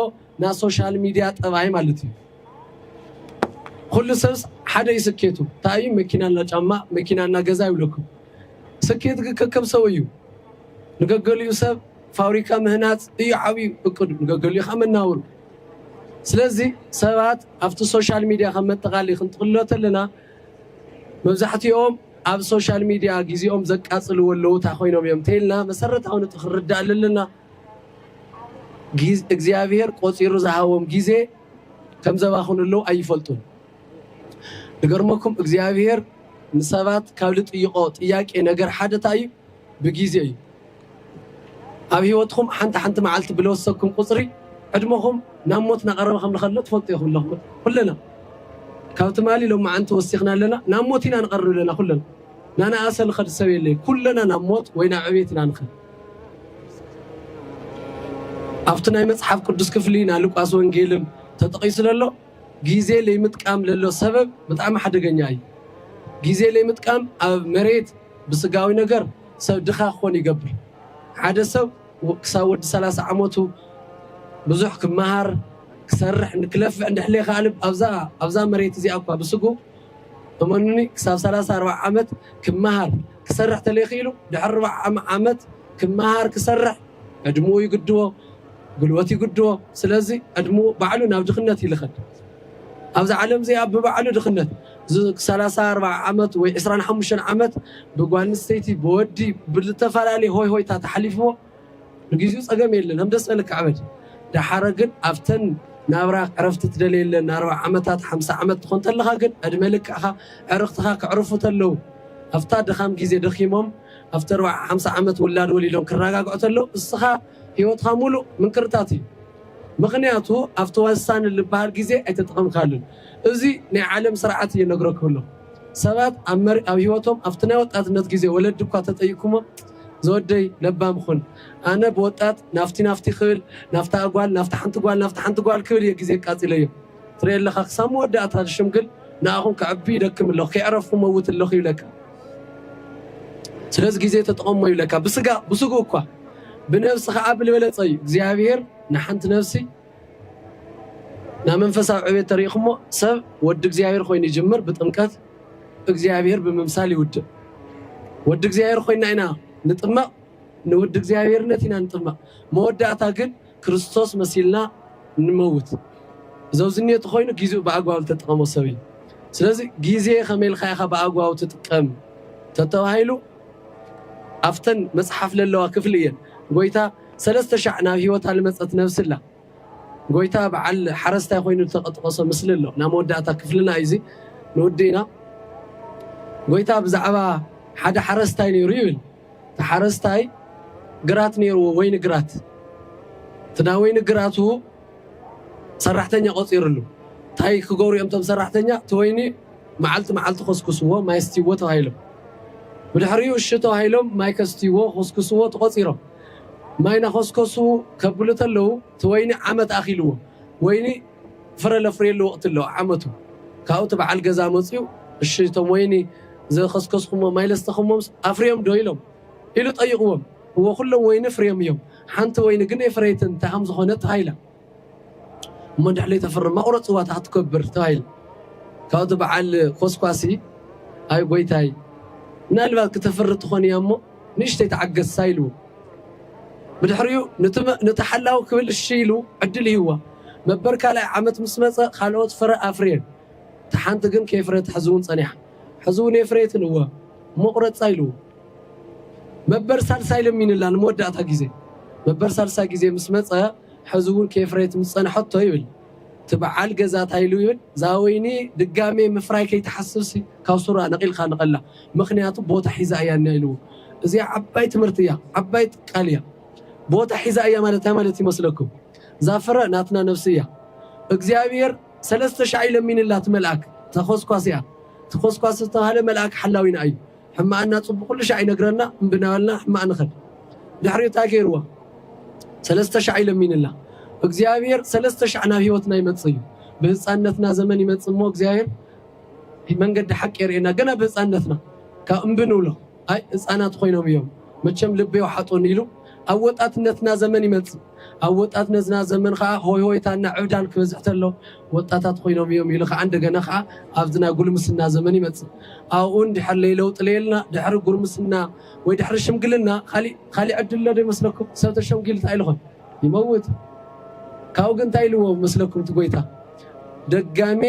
ናይ ሶሻል ሚድያ ጠባይ ማለት እዩ ኹሉ ሰብስ ሓደ እዩ ስኬቱ እንታይ እዩ መኪና እና ጫማ መኪና እና ገዛ ይብለኩም ስኬት ግን ከከም ሰው እዩ ንገገሊኡ ሰብ ፋብሪካ ምህናፅ እዩ ዓብዩ እቅዱ ንገገሊኡ ከዓ መናወሩ ስለዚ ሰባት ኣብቲ ሶሻል ሚዲያ ከም መጠቃሊ ክንጥቅሎ ተለና መብዛሕትኦም ኣብ ሶሻል ሚዲያ ግዜኦም ዘቃፅልዎ ኣለዉ እንታይ ኮይኖም እዮም እንተይልና መሰረታዊ ነጥቢ ክንርዳእ ኣለና እግዚኣብሔር ቆፂሩ ዝሃቦም ጊዜ ከምዘባኽኑ ኣለው ኣይፈልጡን ድገርመኩም እግዚኣብሔር ንሰባት ካብ ልጥይቆ ጥያቄ ነገር ሓደ እንታይ እዩ ብጊዜ እዩ ኣብ ህይወትኩም ሓንቲ ሓንቲ መዓልቲ ብለወሰኩም ቁፅሪ ዕድመኹም ናብ ሞት ናቐረበ ከም ንኸሎ ትፈልጡ ኢኹም ኣለኹም ኩለና ካብ ትማሊ ሎም መዓንቲ ወሲኽና ኣለና ናብ ሞት ኢና ንቐርብ ኣለና ኩለና ናናኣሰ ንኸድ ሰብ የለይ ኩለና ናብ ሞት ወይ ናብ ዕቤት ኢና ንኸድ ኣብቲ ናይ መጽሓፍ ቅዱስ ክፍሊ ናይ ሉቃስ ወንጌልም ተጠቒሱ ለሎ ጊዜ ለይምጥቃም ለሎ ሰበብ ብጣዕሚ ሓደገኛ እዩ። ጊዜ ለይምጥቃም ኣብ መሬት ብስጋዊ ነገር ሰብ ድኻ ክኾን ይገብር። ሓደ ሰብ ክሳብ ወዲ ሰላሳ ዓመቱ ብዙሕ ክመሃር ክሰርሕ ክለፍዕ እንድሕለየ ከኣልብ ኣብዛ መሬት እዚኣ እኳ ብስጉ እመኑኒ ክሳብ ሰላሳ ኣርባዓ ዓመት ክመሃር ክሰርሕ ተለኺሉ ድሕሪ ርብዓ ዓመት ክመሃር ክሰርሕ ዕድምኡ ይግድቦ ጉልበቱ ይግድቦ ስለዚ ዕድምኡ ባዕሉ ናብ ድኽነት እዩ ልኸድ ኣብዛ ዓለም እዚኣ ብባዕሉ ድኽነት ሰላሳ ኣርባዓ ዓመት ወይ ዕስራን ሓሙሽተን ዓመት ብጓል ኣንስተይቲ ብወዲ ብዝተፈላለየ ሆይ ሆይታ ተሓሊፍዎ ንግዚኡ ጸገም የለን ከም ደስ በለካ ዕበድ ዳሓረ ግን ኣብተን ናብራ ዕረፍቲ ትደልየለን ኣርብዓ ዓመታት ሓምሳ ዓመት ትኾን ተለኻ ግን ዕድመ ልክዕኻ ዕርኽትኻ ክዕርፉ ተለው ኣብታ ድኻም ግዜ ደኺሞም ኣብቲ ኣርብዓ ሓምሳ ዓመት ውላድ ወሊዶም ክራጋግዑ ተለው እስኻ ሂወትኻ ሙሉእ ምንቅርታት እዩ ምኽንያቱ ኣብቲ ወሳኒ ልበሃል ግዜ ኣይተጠቐምካሉን እዚ ናይ ዓለም ስርዓት እየ ነግረኩም ኣለኹ ሰባት ኣብ ሂወቶም ኣብቲ ናይ ወጣትነት ግዜ ወለዲ እኳ ተጠይቅኩሞም ዝወደይ ለባም ኹን ኣነ ብወጣት ናፍቲ ናፍቲ ክብል ናፍታ ጓል ናፍታ ሓንቲ ጓል ናፍታ ሓንቲ ጓል ክብል እየ ግዜ ኣቃጺለዮ ትሪኢ ኣለኻ ክሳብ መወዳእታ ዝሽምግል ንኣኹም ከዕቢ ይደክም ኣለኹ ከይዕረፍኩ መውት ኣለኹ ይብለካ ስለዚ ግዜ ተጠቐሞ ይብለካ ብስጋ ብስጉ እኳ ብነብሲ ከዓ ብልበለፀ እዩ እግዚኣብሔር ንሓንቲ ነብሲ ናብ መንፈሳዊ ዕቤት ተሪኢኹሞ ሰብ ወዲ እግዚኣብሔር ኮይኑ ይጅምር ብጥምቀት እግዚኣብሔር ብምምሳል ይውድእ። ወዲ እግዚኣብሔር ኮይና ኢና ንጥመቕ፣ ንወዲ እግዚኣብሔርነት ኢና ንጥመቕ። መወዳእታ ግን ክርስቶስ መሲልና ንመውት። ዘውዝኔቱ ኮይኑ ጊዜኡ ብኣግባቡ ዝተጠቐሞ ሰብ እዩ። ስለዚ ጊዜ ከመይ ኢልካ ኢኻ ብኣግባቡ ትጥቀም ተተባሂሉ ኣፍተን መጽሓፍ ለለዋ ክፍሊ እየን ጎይታ ሰለስተ ሻዕ ናብ ህይወታ ልመጸት ነብሲ ኣላ። ጎይታ በዓል ሓረስታይ ኮይኑ ዝተጠቐሶ ምስሊ ኣሎ ናብ መወዳእታ ክፍልና እዩ እዚ ንውድእና ጎይታ ብዛዕባ ሓደ ሓረስታይ ነይሩ ይብል እቲ ሓረስታይ ግራት ነይርዎ ወይኒ ግራት እቲ ናይ ወይኒ ግራቱ ሰራሕተኛ ቆፂርሉ እንታይ ክገብሩ እዮም እቶም ሰራሕተኛ እቲ ወይኒ መዓልቲ መዓልቲ ኮስኩስዎ ማይ ስትይዎ ተባሂሎም ብድሕሪኡ እሺ ተባሂሎም ማይ ከስትይዎ ኮስኩስዎ ተቆፂሮም ማይ ናኾስኮሱ ከብሉ ተለዉ እቲ ወይኒ ዓመት ኣኺልዎ ወይኒ ፍረ ለፍርየሉ ወቕቲ ኣሎ ዓመቱ ካብኡ እቲ በዓል ገዛ መፅዩ እሺ እቶም ወይኒ ዘኸስከስኹሞም ማይ ለስተኹሞምስ ኣፍርዮም ዶ ኢሎም ኢሉ ጠይቕዎም እወ ኩሎም ወይኒ ፍርዮም እዮም ሓንቲ ወይኒ ግን የፍረየትን ተሃም ዝኾነት ሃይላ እሞ እንድሕር ለይተፍርም መቑረፂ ዋታ ክትገብር ተባሂሉ ካብኡ እቲ በዓል ኮስኳሲ ኣይ ጎይታይ ምናልባት ክተፍሪ ትኾን እያ እሞ ንእሽተይ ተዓገሳ ኢልዎ ብድሕሪኡ ነቲ ሓላዊ ክብል እሺ ኢሉ ዕድል ይህዋ መበር ካልኣይ ዓመት ምስ መፀ ካልኦት ፍረ ኣፍርየን እቲ ሓንቲ ግን ከይፍረየት ሕዚ እውን ፀኒሓ ሕዚ እውን የፍረየትን እወ መቑረፃ ኢልዎ መበር ሳልሳይ ለሚንላ ንመወዳእታ ግዜ መበር ሳልሳይ ግዜ ምስ መፀ ሐዚ እውን ከየፍረየት ምስ ፀንሐቶ ይብል እቲ በዓል ገዛ ታይ ኢሉ ይብል እዛ ወይኒ ድጋሜ ምፍራይ ከይትሓስብሲ ካብ ሱራ ነቂልካ ንቀላ ምክንያቱ ቦታ ሒዛ እያ እኒኣ ኢልዎ እዚኣ ዓባይ ትምህርቲ እያ ዓባይ ቃል እያ ቦታ ሒዛ እያ ማለት ታይ ማለት ይመስለኩም እዛ ፍረ ናትና ነብሲ እያ እግዚኣብሔር ሰለስተ ሻዕ እዩ ለሚንላ እቲ መልኣክ ተኮስኳስ እያ እቲ ኮስኳስ ዝተብሃለ መልኣክ ሓላዊና እዩ ሕማኣና ጽቡቅ ኩሉ ሻዕ ይነግረና እምቢ ናበልና ሕማቅ ንከድ ድሕሪኡ ታይ ገይርዋ ሰለስተ ሻዕ እዩ ለሚንላ እግዚኣብሔር ሰለስተ ሻዕ ናብ ህይወትና ይመጽእ እዩ ብህጻንነትና ዘመን ይመጽእ እሞ እግዚኣብሔር መንገዲ ሓቂ የርእየና ገና ብህጻንነትና ካብ እምቢ ንብሎ ኣይ ህጻናት ኮይኖም እዮም መቸም ልቢ የውሓጡኒ ኢሉ ኣብ ወጣትነትና ዘመን ይመጽእ። ኣብ ወጣትነትና ዘመን ከኣ ሆይሆይታና ዕብዳን ክበዝሕ ተሎ ወጣታት ኮይኖም እዮም ኢሉ ከኣ እንደገና ከኣ ኣብዚ ናይ ጉልምስና ዘመን ይመጽእ። ኣብኡ እንድሕር ለይለውጢ ለየልና ድሕሪ ጉርምስና ወይ ድሕሪ ሽምግልና ካሊእ ካሊእ ዕድል ኣሎ ዶ ይመስለኩም? ሰብ ተሸምጊሉ እንታይ ኢሉ ይኾን? ይመውት። ካብኡ ግን እንታይ ኢልዎ ይመስለኩም እቲ ጎይታ? ደጋሜ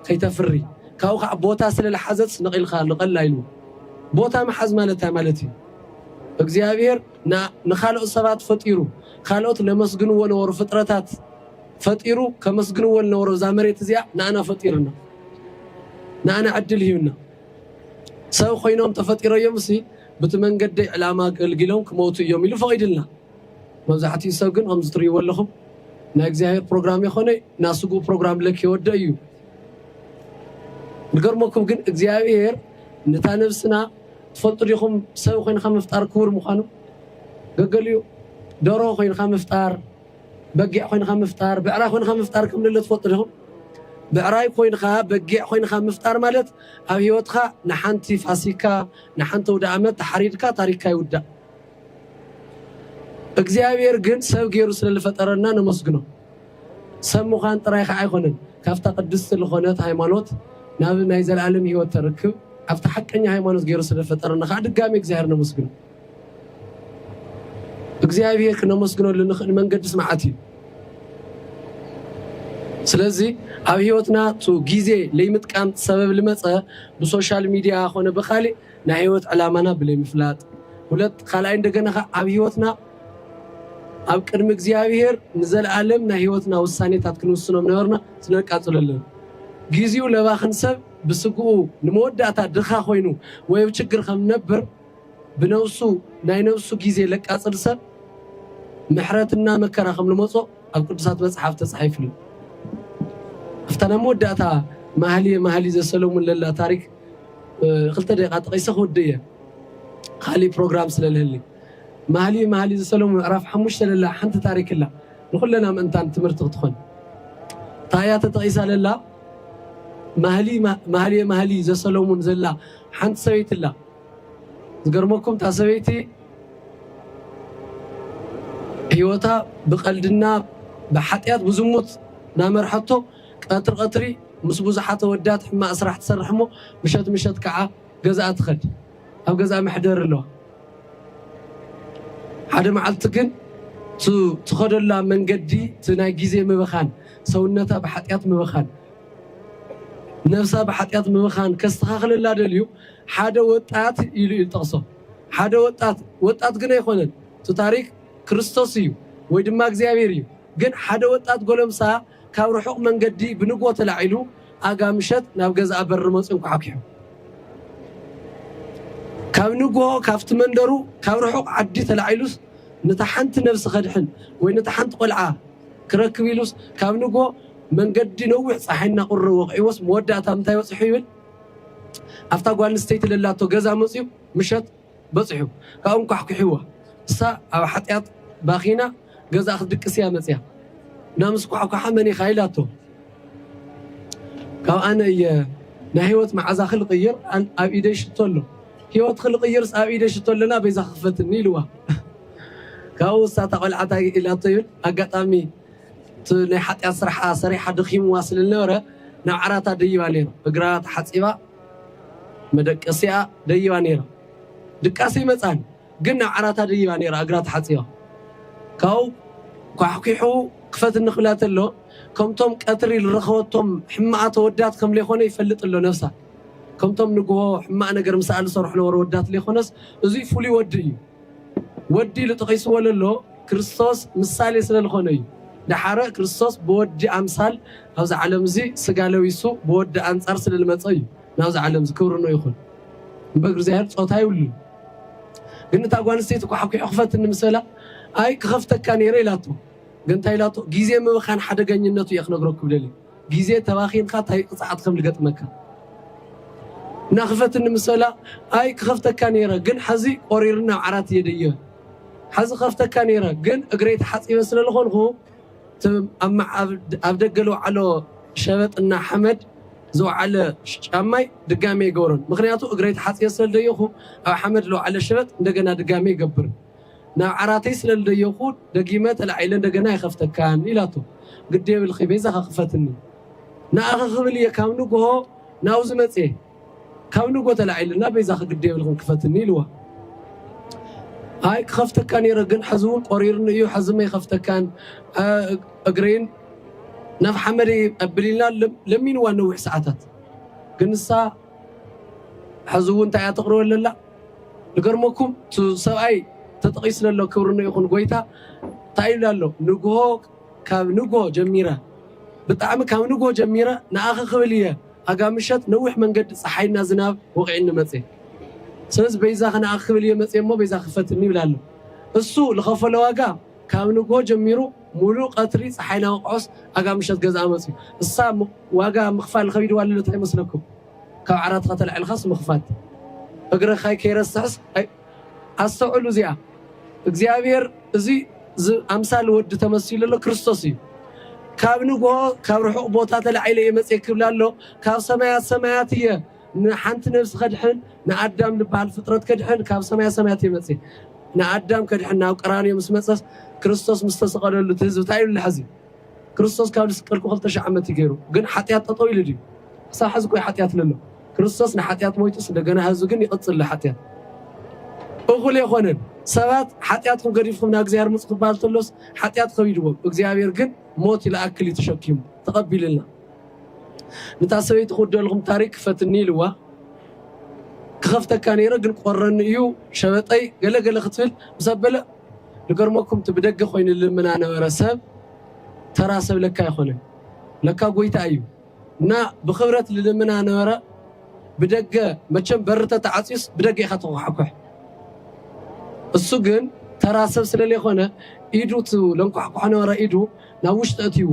ከይተፍሪ። ካብኡ ከኣ ቦታ ስለ ልሓዘጽ ነቒልካ ንቐል ኣይልዎ። ቦታ ምሓዝ ማለት እንታይ ማለት እዩ? እግዚኣብሔር ንካልኦት ሰባት ፈጢሩ ካልኦት ለመስግንዎ ነበሩ ፍጥረታት ፈጢሩ ከመስግንዎ ልነበሮ እዛ መሬት እዚኣ ንኣና ፈጢርና ንኣና ዕድል ሂብና ሰብ ኮይኖም ተፈጢረዮም ሲ ብቲ መንገደይ ዕላማ ገልጊሎም ክመውቱ እዮም ኢሉ ፈቂድልና መብዛሕትኡ ሰብ ግን ከምዚ ትርእይዎ ኣለኹም ናይ እግዚኣብሔር ፕሮግራም የኮነ ናስጉ ፕሮግራም ለክ የወደ እዩ ንገርመኩም ግን እግዚኣብሔር ንታ ነብስና ትፈልጡ ዲኹም ሰብ ኮይንካ ምፍጣር ክቡር ምዃኑ? ገገሊኡ ደርሆ ኮይንካ ምፍጣር፣ በጊዕ ኮይንካ ምፍጣር፣ ብዕራይ ኮይንካ ምፍጣር ከም ዘለ ትፈልጡ ዲኹም? ብዕራይ ኮይንካ፣ በጊዕ ኮይንካ ምፍጣር ማለት ኣብ ህይወትካ ንሓንቲ ፋሲካ፣ ንሓንቲ ኣውደኣመት ተሓሪድካ ታሪኽካ ይውዳእ። እግዚኣብሔር ግን ሰብ ገይሩ ስለ ልፈጠረና ነመስግኖ። ሰብ ምዃን ጥራይ ከኣ ኣይኮነን ካብታ ቅድስቲ ልኾነት ሃይማኖት ናብ ናይ ዘልኣለም ሕይወት ተርክብ ኣብታ ሓቀኛ ሃይማኖት ገይሩ ስለ ፈጠረና ከኣ ድጋሜ እግዚኣብሔር ነመስግኖ። እግዚኣብሔር ክነመስግነሉ እንኽእል መንገድስ መዓት እዩ። ስለዚ ኣብ ሕይወትና ቱ ጊዜ ለይምጥቃም ሰበብ ልመጸ ብሶሻል ሚዲያ ኮነ ብካሊእ ናይ ህይወት ዕላማና ብለይ ምፍላጥ ሁለት ካልኣይ እንደገና ከ ኣብ ህይወትና ኣብ ቅድሚ እግዚኣብሔር ንዘለኣለም ናይ ህይወትና ውሳኔታት ክንውስኖም ነበርና ስነቃጽሎ ኣለና ጊዜኡ ለባኽን ሰብ ብስግኡ ንመወዳእታ ድኻ ኮይኑ ወይ ኣብ ችግር ከም ነብር ብነብሱ ናይ ነብሱ ጊዜ ለቃጽል ሰብ ምሕረትና መከራ ከም ንመጾ ኣብ ቅዱሳት መጽሓፍ ተጻሒፍሉ ኣብታ ናይ መወዳእታ ማህልየ ማህሊ ዘሰለሙን ለላ ታሪክ ክልተ ደቂቃ ጠቂሰ ክውድእ እየ ካሊእ ፕሮግራም ስለ ልህሊ። ማህሊ ማህሊ ዘሰሎሙ ምዕራፍ ሓሙሽተ ለላ ሓንቲ ታሪክ እላ ንኩለና ምእንታን ትምህርቲ ክትኾን እንታይ እያ ተጠቂሳ ለላ ማህሊ ማህልየ ማህሊ ዘሰሎሙን ዘላ ሓንቲ ሰበይቲ እላ ዝገርመኩም እታ ሰበይቲ ህይወታ ብቀልድና ብሓጢኣት ብዝሙት ናመርሓቶ ቀትሪ ቀትሪ ምስ ብዙሓት ኣወዳት ሕማቅ ስራሕ ትሰርሕ እሞ ምሸት ምሸት ካዓ ገዝኣ ትኸድ ኣብ ገዝኣ መሕደሪ ኣለዋ ሓደ ማዓልቲ ግን እቱ ትኸደላ መንገዲ እቲ ናይ ግዜ ምብኻን ሰውነታ ብሓጥያት ምብኻን ነብሳ ብሓጥያት ምብኻን ከስተኻኽለላ ደልዩ ሓደ ወጣት ኢሉ እዩ ዝጠቅሶ ሓደ ወጣት ወጣት ግን ኣይኮነን እቱ ታሪክ ክርስቶስ እዩ ወይ ድማ እግዚኣብሔር እዩ ግን ሓደ ወጣት ጎለምሳ ካብ ርሑቕ መንገዲ ብንግሆ ተላዒሉ ኣጋ ምሸት ናብ ገዛኣ በሪ መጺኡ ኣንኳሓኲሑ። ካብ ንግሆ ካብቲ መንደሩ ካብ ርሑቕ ዓዲ ተላዒሉስ ነታ ሓንቲ ነብሲ ከድሕን ወይ ነታ ሓንቲ ቆልዓ ክረክብ ኢሉስ ካብ ንግሆ መንገዲ ነዊሕ ጸሓይ እናቑረረ ወቒዕዎስ መወዳእታ ምንታይ በጽሑ ይብል ኣብታ ጓል ኣንስተይቲ ለላቶ ገዛ መጺኡ ምሸት በጺሑ ካብኡ እንኳሕኲሕዋ እሳ ኣብ ሓጥያት ባኺና ገዛኣ ክትድቅስ እያ መጽያ እና ምስ ኳሕኳሓ መን ኢኻ ኢላቶ ካብ ኣነ እየ ናይ ህይወት መዓዛ ክልቕይር ኣብ ኢደይ ሽቶ ኣሎ ህይወት ክልቕይርስ ኣብ ኢደይ ሽቶ ኣለና በይዛ ክፈትኒ ኢልዋ ካብኡ እሳ እታ ቆልዓ እንታይ ኢላቶ ይብል ኣጋጣሚ ናይ ሓጢኣት ስራሓ ሰሪሓ ደኺምዋ ስለ ዝነበረ ናብ ዓራታ ደይባ ነይራ እግራ ተሓጺባ መደቀሲኣ ደይባ ነይራ። ድቃስ ኣይመጽኣን፣ ግን ናብ ዓራታ ደይባ ነይራ እግራ ተሓጺባ። ካብኡ ኳሕኲሑ ክፈትኒ ክብላ ተሎ፣ ከምቶም ቀትሪ ልረኸበቶም ሕማቓት ኣወዳት ከም ለይኮነ ይፈልጥ ኣሎ ነብሳ። ከምቶም ንግሆ ሕማቕ ነገር ምሳኣ ልሰርሑ ነበሩ ኣወዳት ለይኮነስ፣ እዙይ ፍሉይ ወዲ እዩ። ወዲ ኢሉ ጠቒስዎ ለሎ ክርስቶስ ምሳሌ ስለ ልኾነ እዩ። ደሓረ ክርስቶስ ብወዲ ኣምሳል ኣብዚ ዓለም እዚ ስጋ ለቢሱ ብወዲ ኣንጻር ስለ ልመጸ እዩ ናብዚ ዓለም እዚ። ክብሪ ንኡ ይኹን። እምበር እግዚኣብሔር ጾታ የብሉን። ግን እታ ጓል ኣንስተይቲ ኳሕኲሑ ክፈትኒ ምስ በላ ኣይ ክኸፍተካ ነይረ ኢላቶ። ግን እንታይ ኢላቶ ግዜ ምብኻን ሓደገኝነቱ እየ ክነግረኩም ደልየ። ግዜ ተባኺንካ ታይ ቅፅዓት ከም ልገጥመካ እና ክፈትኒ ምሰላ ኣይ ክከፍተካ ነይረ ግን ሐዚ ቆሪርኒ ናብ ዓራት እየ ደየ ሐዚ ክከፍተካ ነይረ ግን እግረይ ተሓፂበ ስለ ልኮንኩ ኣብ ደገ ልውዓሎ ሸበጥ እና ሓመድ ዝውዓለ ጫማይ ድጋሚ ኣይገብሮን ምክንያቱ እግረይ ተሓፂበ ስለ ልደየኩ ኣብ ሓመድ ልውዓለ ሸበጥ እንደገና ድጋሚ ይገብር ናብ ዓራተይ ስለ ልደየኹ ደጊመ ተላዒለ እንደገና ኣይኸፍተካን ኢላቶ። ግዲ የብልኺ በይዛኻ ክፈትኒ ንኣኺ ክብል እየ ካብ ንግሆ ናብዚ መጽየ ካብ ንግሆ ተላዒለ እና በይዛኺ ግዲ የብልኽን ክፈትኒ ኢልዋ። ኣይ ክኸፍተካ ነይረ ግን ሕዚ እውን ቆሪርኒ እዩ ሕዚ መይኸፍተካን እግረይን ናብ ሓመድ ኣቢሊልና ለሚንዋ ነዊሕ ሰዓታት ግን ንሳ ሕዚ እውን እንታይ እያ ተቕርበለላ ንገርመኩም እቱ ሰብኣይ ተጠቒስለ ኣሎ ክብርነ ይኹን ጎይታ ታይ ኢሉ ኣሎ ንግሆ ካብ ንግሆ ጀሚረ ብጣዕሚ ካብ ንግሆ ጀሚረ ንኣኺ ክብል እየ ኣጋ ምሸት ነዊሕ መንገዲ ፀሓይና ዝናብ ወቒዕኒ መፅየ ስለዚ በይዛኺ ንኣኺ ክብል እየ መፅየ እሞ በይዛኺ ፈትኒ ይብል ኣሎ እሱ ልኸፈለ ዋጋ ካብ ንግሆ ጀሚሩ ሙሉእ ቀትሪ ፀሓይና ወቕዖስ ኣጋ ምሸት ገዝኣ መፅዩ እሳ ዋጋ ምኽፋል ኸቢድዋ ለሎ ታይ ይመስለኩም ካብ ዓራትካ ተላዒልካስ ምኽፋት እግርኻይ ከይረስሕስ ኣይ ኣስተውዕሉ እዚኣ እግዚኣብሔር እዚ ዝ- ኣምሳል ወዲ ተመሲሉ ኣሎ ክርስቶስ እዩ ካብ ንግሆ ካብ ርሑቕ ቦታ ተላዒለ እየ መፅየ ክብል ኣሎ ካብ ሰማያት ሰማያት እየ ንሓንቲ ነብሲ ከድሕን ንኣዳም ዝበሃል ፍጥረት ከድሕን ካብ ሰማያት ሰማያት እየ መፅየ ንኣዳም ከድሕን ናብ ቀራንዮ ምስ መፀስ ክርስቶስ ምስ ተሰቐለሉ እቲ ህዝቢ እንታይ ኢሉ ኣሎ ሕዚ ክርስቶስ ካብ ልስቀልኩ ክልተ ሽሕ ዓመት እዩ ገሩ ግን ሓጥያት ጠጠው ኢሉ ድዩ ክሳብ ሐዚ ቆይ ሓጥያት ለሎ ክርስቶስ ንሓጥያት ሞይቱስ እንደገና ሐዙ ግን ይቅፅል ልሓጥያት እኹል የኾነን ሰባት ሓጥያትኩም ገዲፍኩም ናእግዚኣብሔር ምፁ ክበሃል ተሎስ ሓጥያት ከቢድዎም እግዚኣብሔር ግን ሞት ይልኣክል እዩ ተሸኪሙ ተቀቢልልና ንታ ሰበይቲ ክውደልኹም ታሪክ ክፈትኒ ኢልዋ ክኸፍተካ ነይረ ግን ቆረኒ እዩ ሸበጠይ ገለገለ ክትብል ምስ ኣበለ ልገርመኩም እቲ ብደገ ኮይኑ ልልምና ነበረ ሰብ ተራ ሰብ ለካ ኣይኮነን ለካ ጎይታ እዩ እና ብክብረት ልልምና ነበረ ብደገ መቸም በሪ ተተዓጽዩስ ብደገ ኢካ ትኩሓኩሕ እሱ ግን ተራ ሰብ ስለሌኮነ ኢዱ እቲ ለንኳሕኩሖ ነበረ ኢዱ ናብ ውሽጢ ኣእትይዎ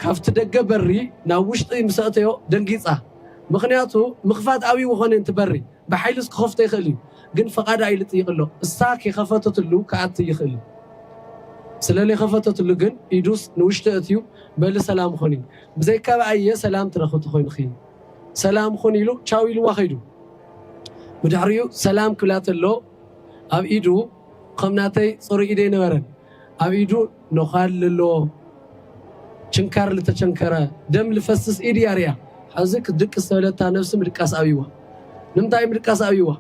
ካብቲ ደገ በሪ ናብ ውሽጢ ምስ ኣእተዮ ደንጊጻ ምክንያቱ ምክፋት ኣብይዎ ኮነ እቲ በሪ ብሓይልስ ክኸፍቶ ይኽእል እዩ ግን ፈቓዳ እዩ ልጥይቅ ኣሎ እሳ ከይኸፈተትሉ ክኣቲ ይኽእል እዩ ስለለይኸፈተትሉ ግን ኢዱስ ንውሽጢ እእትዩ በሊ ሰላም ኹኒ ብዘይካብኣ እየ ሰላም ትረኽብቲ ኮይንኺ ሰላም ኹን ኢሉ ቻው ኢልዋ ከይዱ ብድሕሪኡ ሰላም ክብላ ተሎ ኣብ ኢዱ ኸም ናተይ ፅሩይ ኢድ ኣይነበረን ኣብ ኢዱ ኖዃል ልሎ ችንካር ልተቸንከረ ደም ልፈስስ ኢድ ያርያ ሐዚ ክትድቅስ ተበለታ ነብሲ ምድቃስ ኣብይዋ ንምንታይ ምድቃስ ኣብይዋ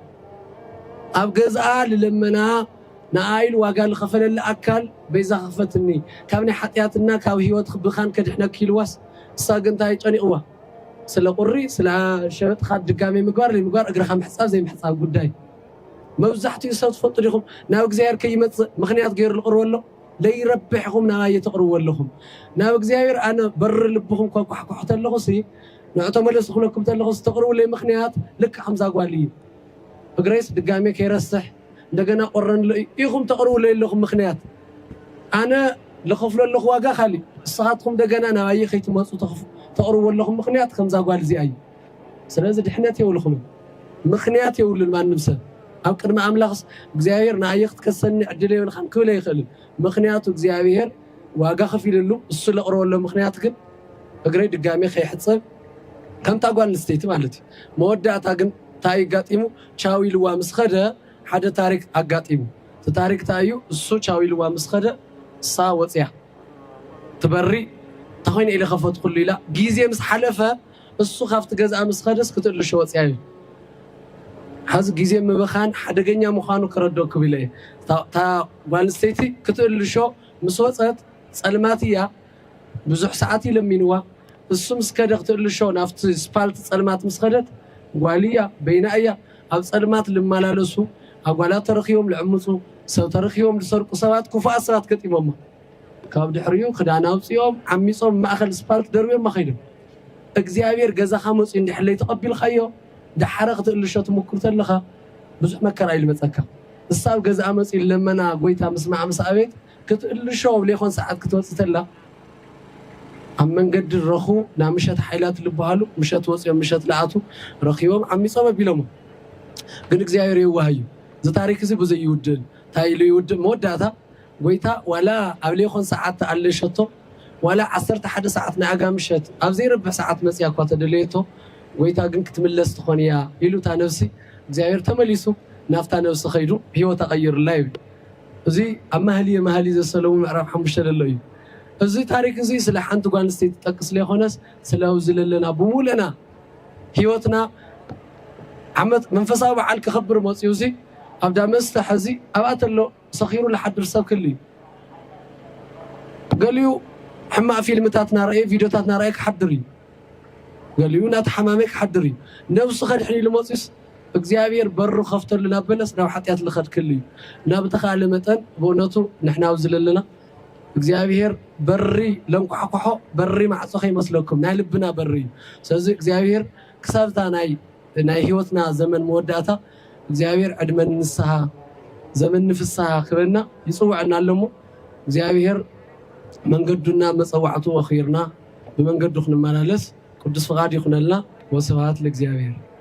ኣብ ገዝኣ ልለመና ንኣይል ዋጋ ልኸፈለላ ኣካል በይዛ ክፈትኒ ካብ ናይ ሓጥያትና ካብ ህይወት ክብኻን ከድሕነኪ ኢልዋስ እሳ ግን እንታይ ጨኒቕዋ ስለ ቁሪ ስለ ሸበጥኻ ድጋሜ ምግባር ለይምግባር እግርኻ ምሕጻብ ዘይምሕጻብ ጉዳይ መብዛሕቲኡ ሰብ ትፈልጡ ዲኹም ናብ እግዚኣብሔር ከይመጽእ ምኽንያት ገይሩ ልቕርቦ ኣሎ ለይረብሕ ኢኹም ናባየ ተቕርብዎ ኣለኹም ናብ እግዚኣብሔር ኣነ በሪ ልብኹም ከኳሕኳሕ ተለኹሲ ንዑ ተመለሱ ክብለኩም ተለኹስ ተቕርብለይ ምኽንያት ልክዕ ከምዛ ጓል እዩ እግረይስ ድጋሜ ከይረስሕ እንደገና ቆረንሎ እዩ ኢኹም ተቕርብለይ ኣለኹም ምኽንያት ኣነ ልኸፍሎ ኣለኹ ዋጋ ካሊእ ንስኻትኹም ደገና ናባየ ከይትመጹ ተቕርብዎ ኣለኹም ምኽንያት ከምዛ ጓል እዚኣ እዩ ስለዚ ድሕነት የውልኹምን ምኽንያት የውሉን ማንም ሰብ ኣብ ቅድሚ ኣምላኽስ እግዚኣብሔር ንኣየ ክትከሰኒ ዕድል የብልኻን ክብል ኣይኽእልን ምኽንያቱ እግዚኣብሔር ዋጋ ከፊልሉ እሱ ለቕረበሎ ምኽንያት ግን እግረይ ድጋሜ ከይሕጸብ ከምታ ጓል ንስተይቲ ማለት እዩ መወዳእታ ግን እንታይ ይጋጢሙ ቻው ኢልዋ ምስ ኸደ ሓደ ታሪክ ኣጋጢሙ እቲ ታሪክ እንታይ እዩ እሱ ቻው ኢልዋ ምስ ኸደ እሳ ወፅያ ትበሪ እንታይ ኮይነ ኢለ ከፈትኩሉ ኢላ ግዜ ምስ ሓለፈ እሱ ካብቲ ገዝኣ ምስ ኸደስ ክትእልሾ ወጺኣ እዩ። ሐዚ ግዜ ምብኻን ሓደገኛ ምዃኑ ከረድኣኩም ኢለ እየ። እታ ጓል ኣንስተይቲ ክትእልሾ ምስ ወጸት ጸልማት እያ። ብዙሕ ሰዓት እዩ ለሚንዋ። እሱ ምስ ከደ ክትእልሾ ናብቲ ስፓልት ጸልማት ምስ ኸደት ጓል እያ በይና እያ። ኣብ ጸልማት ልማላለሱ ኣጓላት ተረኺቦም ልዕምጹ ሰብ ተረኺቦም ልሰርቁ ሰባት ክፉኣት ሰባት ገጢሞማ። ካብ ድሕሪኡ ክዳና ኣውጺኦም ዓሚጾም ማእኸል ስፓልት ደርብዮማ ከይዶም። እግዚኣብሔር ገዛኻ መፅዩ እንድሕር ለይተቐቢልኻዮ ዳሓረ ክትእልሾ ትሙክር ተለኻ ብዙሕ መከራ እዩ ልመፀካ እሳብ ገዝኣ መፅዩ ለመና ጎይታ ምስማዓ ምስ ኣቤት ክትእልሾ ኣብ ለይኾን ሰዓት ክትወፅእ ተላ ኣብ መንገዲ ረኹ ናምሸት ሓይላት ልብሃሉ ምሸት ወፅዮም ምሸት ልኣቱ ረኺቦም ዓሚፆም ኣቢሎሞ ግን እግዚኣብሔር የዋህ እዩ ዝታሪክ እዚ ብዙይ ይውድእ ታይ ኢሉ ይውድእ መወዳእታ ጎይታ ዋላ ኣብ ሌኮን ሰዓት ተኣለሸቶ ዋላ ዓሰርተ ሓደ ሰዓት ናይ ኣጋ ምሸት ኣብ ዘይረብሕ ሰዓት መጽያ እኳ ተደለየቶ ጎይታ ግን ክትምለስ ትኾን እያ ኢሉ እታ ነብሲ እግዚኣብሔር ተመሊሱ ናብታ ነብሲ ከይዱ ሕይወታ ቀይርላ ይብል እዚ ኣብ መኃልየ መኃልይ ዘሰሎሙ ምዕራፍ ሓሙሽተ ለሎ እዩ እዚ ታሪክ እዚ ስለ ሓንቲ ጓል ኣንስተይቲ ዝጠቅስ ለይኮነስ ስለ ኣብዚ ለለና ብሙሉእና ሕይወትና ዓመት መንፈሳዊ በዓል ከኸብር መጽዩ እዚ ኣብ ዳመስተ ሐዚ ኣብኣ ተሎ ሰኺሩ ልሓድር ሰብ ክህሉ እዩ ገሊኡ ሕማቅ ፊልምታት ናረኣየ ቪድዮታት ናረኣየ ክሓድር እዩ ገሊኡ ናተሓማመ ክሓድር እዩ ነብሱ ከድሕን ኢሉ መጽዩስ እግዚኣብሔር በሩ ክከፍተሉ ናበለስ ናብ ሓጥያት ልከድ ክህሉ እዩ እና ብተካእለ መጠን ብእውነቱ ንሕና ኣብዚ ለለና እግዚኣብሔር በሪ ለንኳሕኩሖ በሪ ማዕጾ ከይመስለኩም ናይ ልብና በሪ እዩ ስለዚ እግዚኣብሔር ክሳብ እታ ናይ ናይ ህይወትና ዘመን መወዳእታ እግዚኣብሔር ዕድመ ንንስሃ ዘመን ንፍስሃ ክበና ይጽውዐና ኣሎ እሞ እግዚኣብሔር መንገዱና መጸዋዕቱ ወኺርና ብመንገዱ ክንመላለስ ቅዱስ ፍቃድ ይኹነልና ወስብሃት ለእግዚኣብሔር።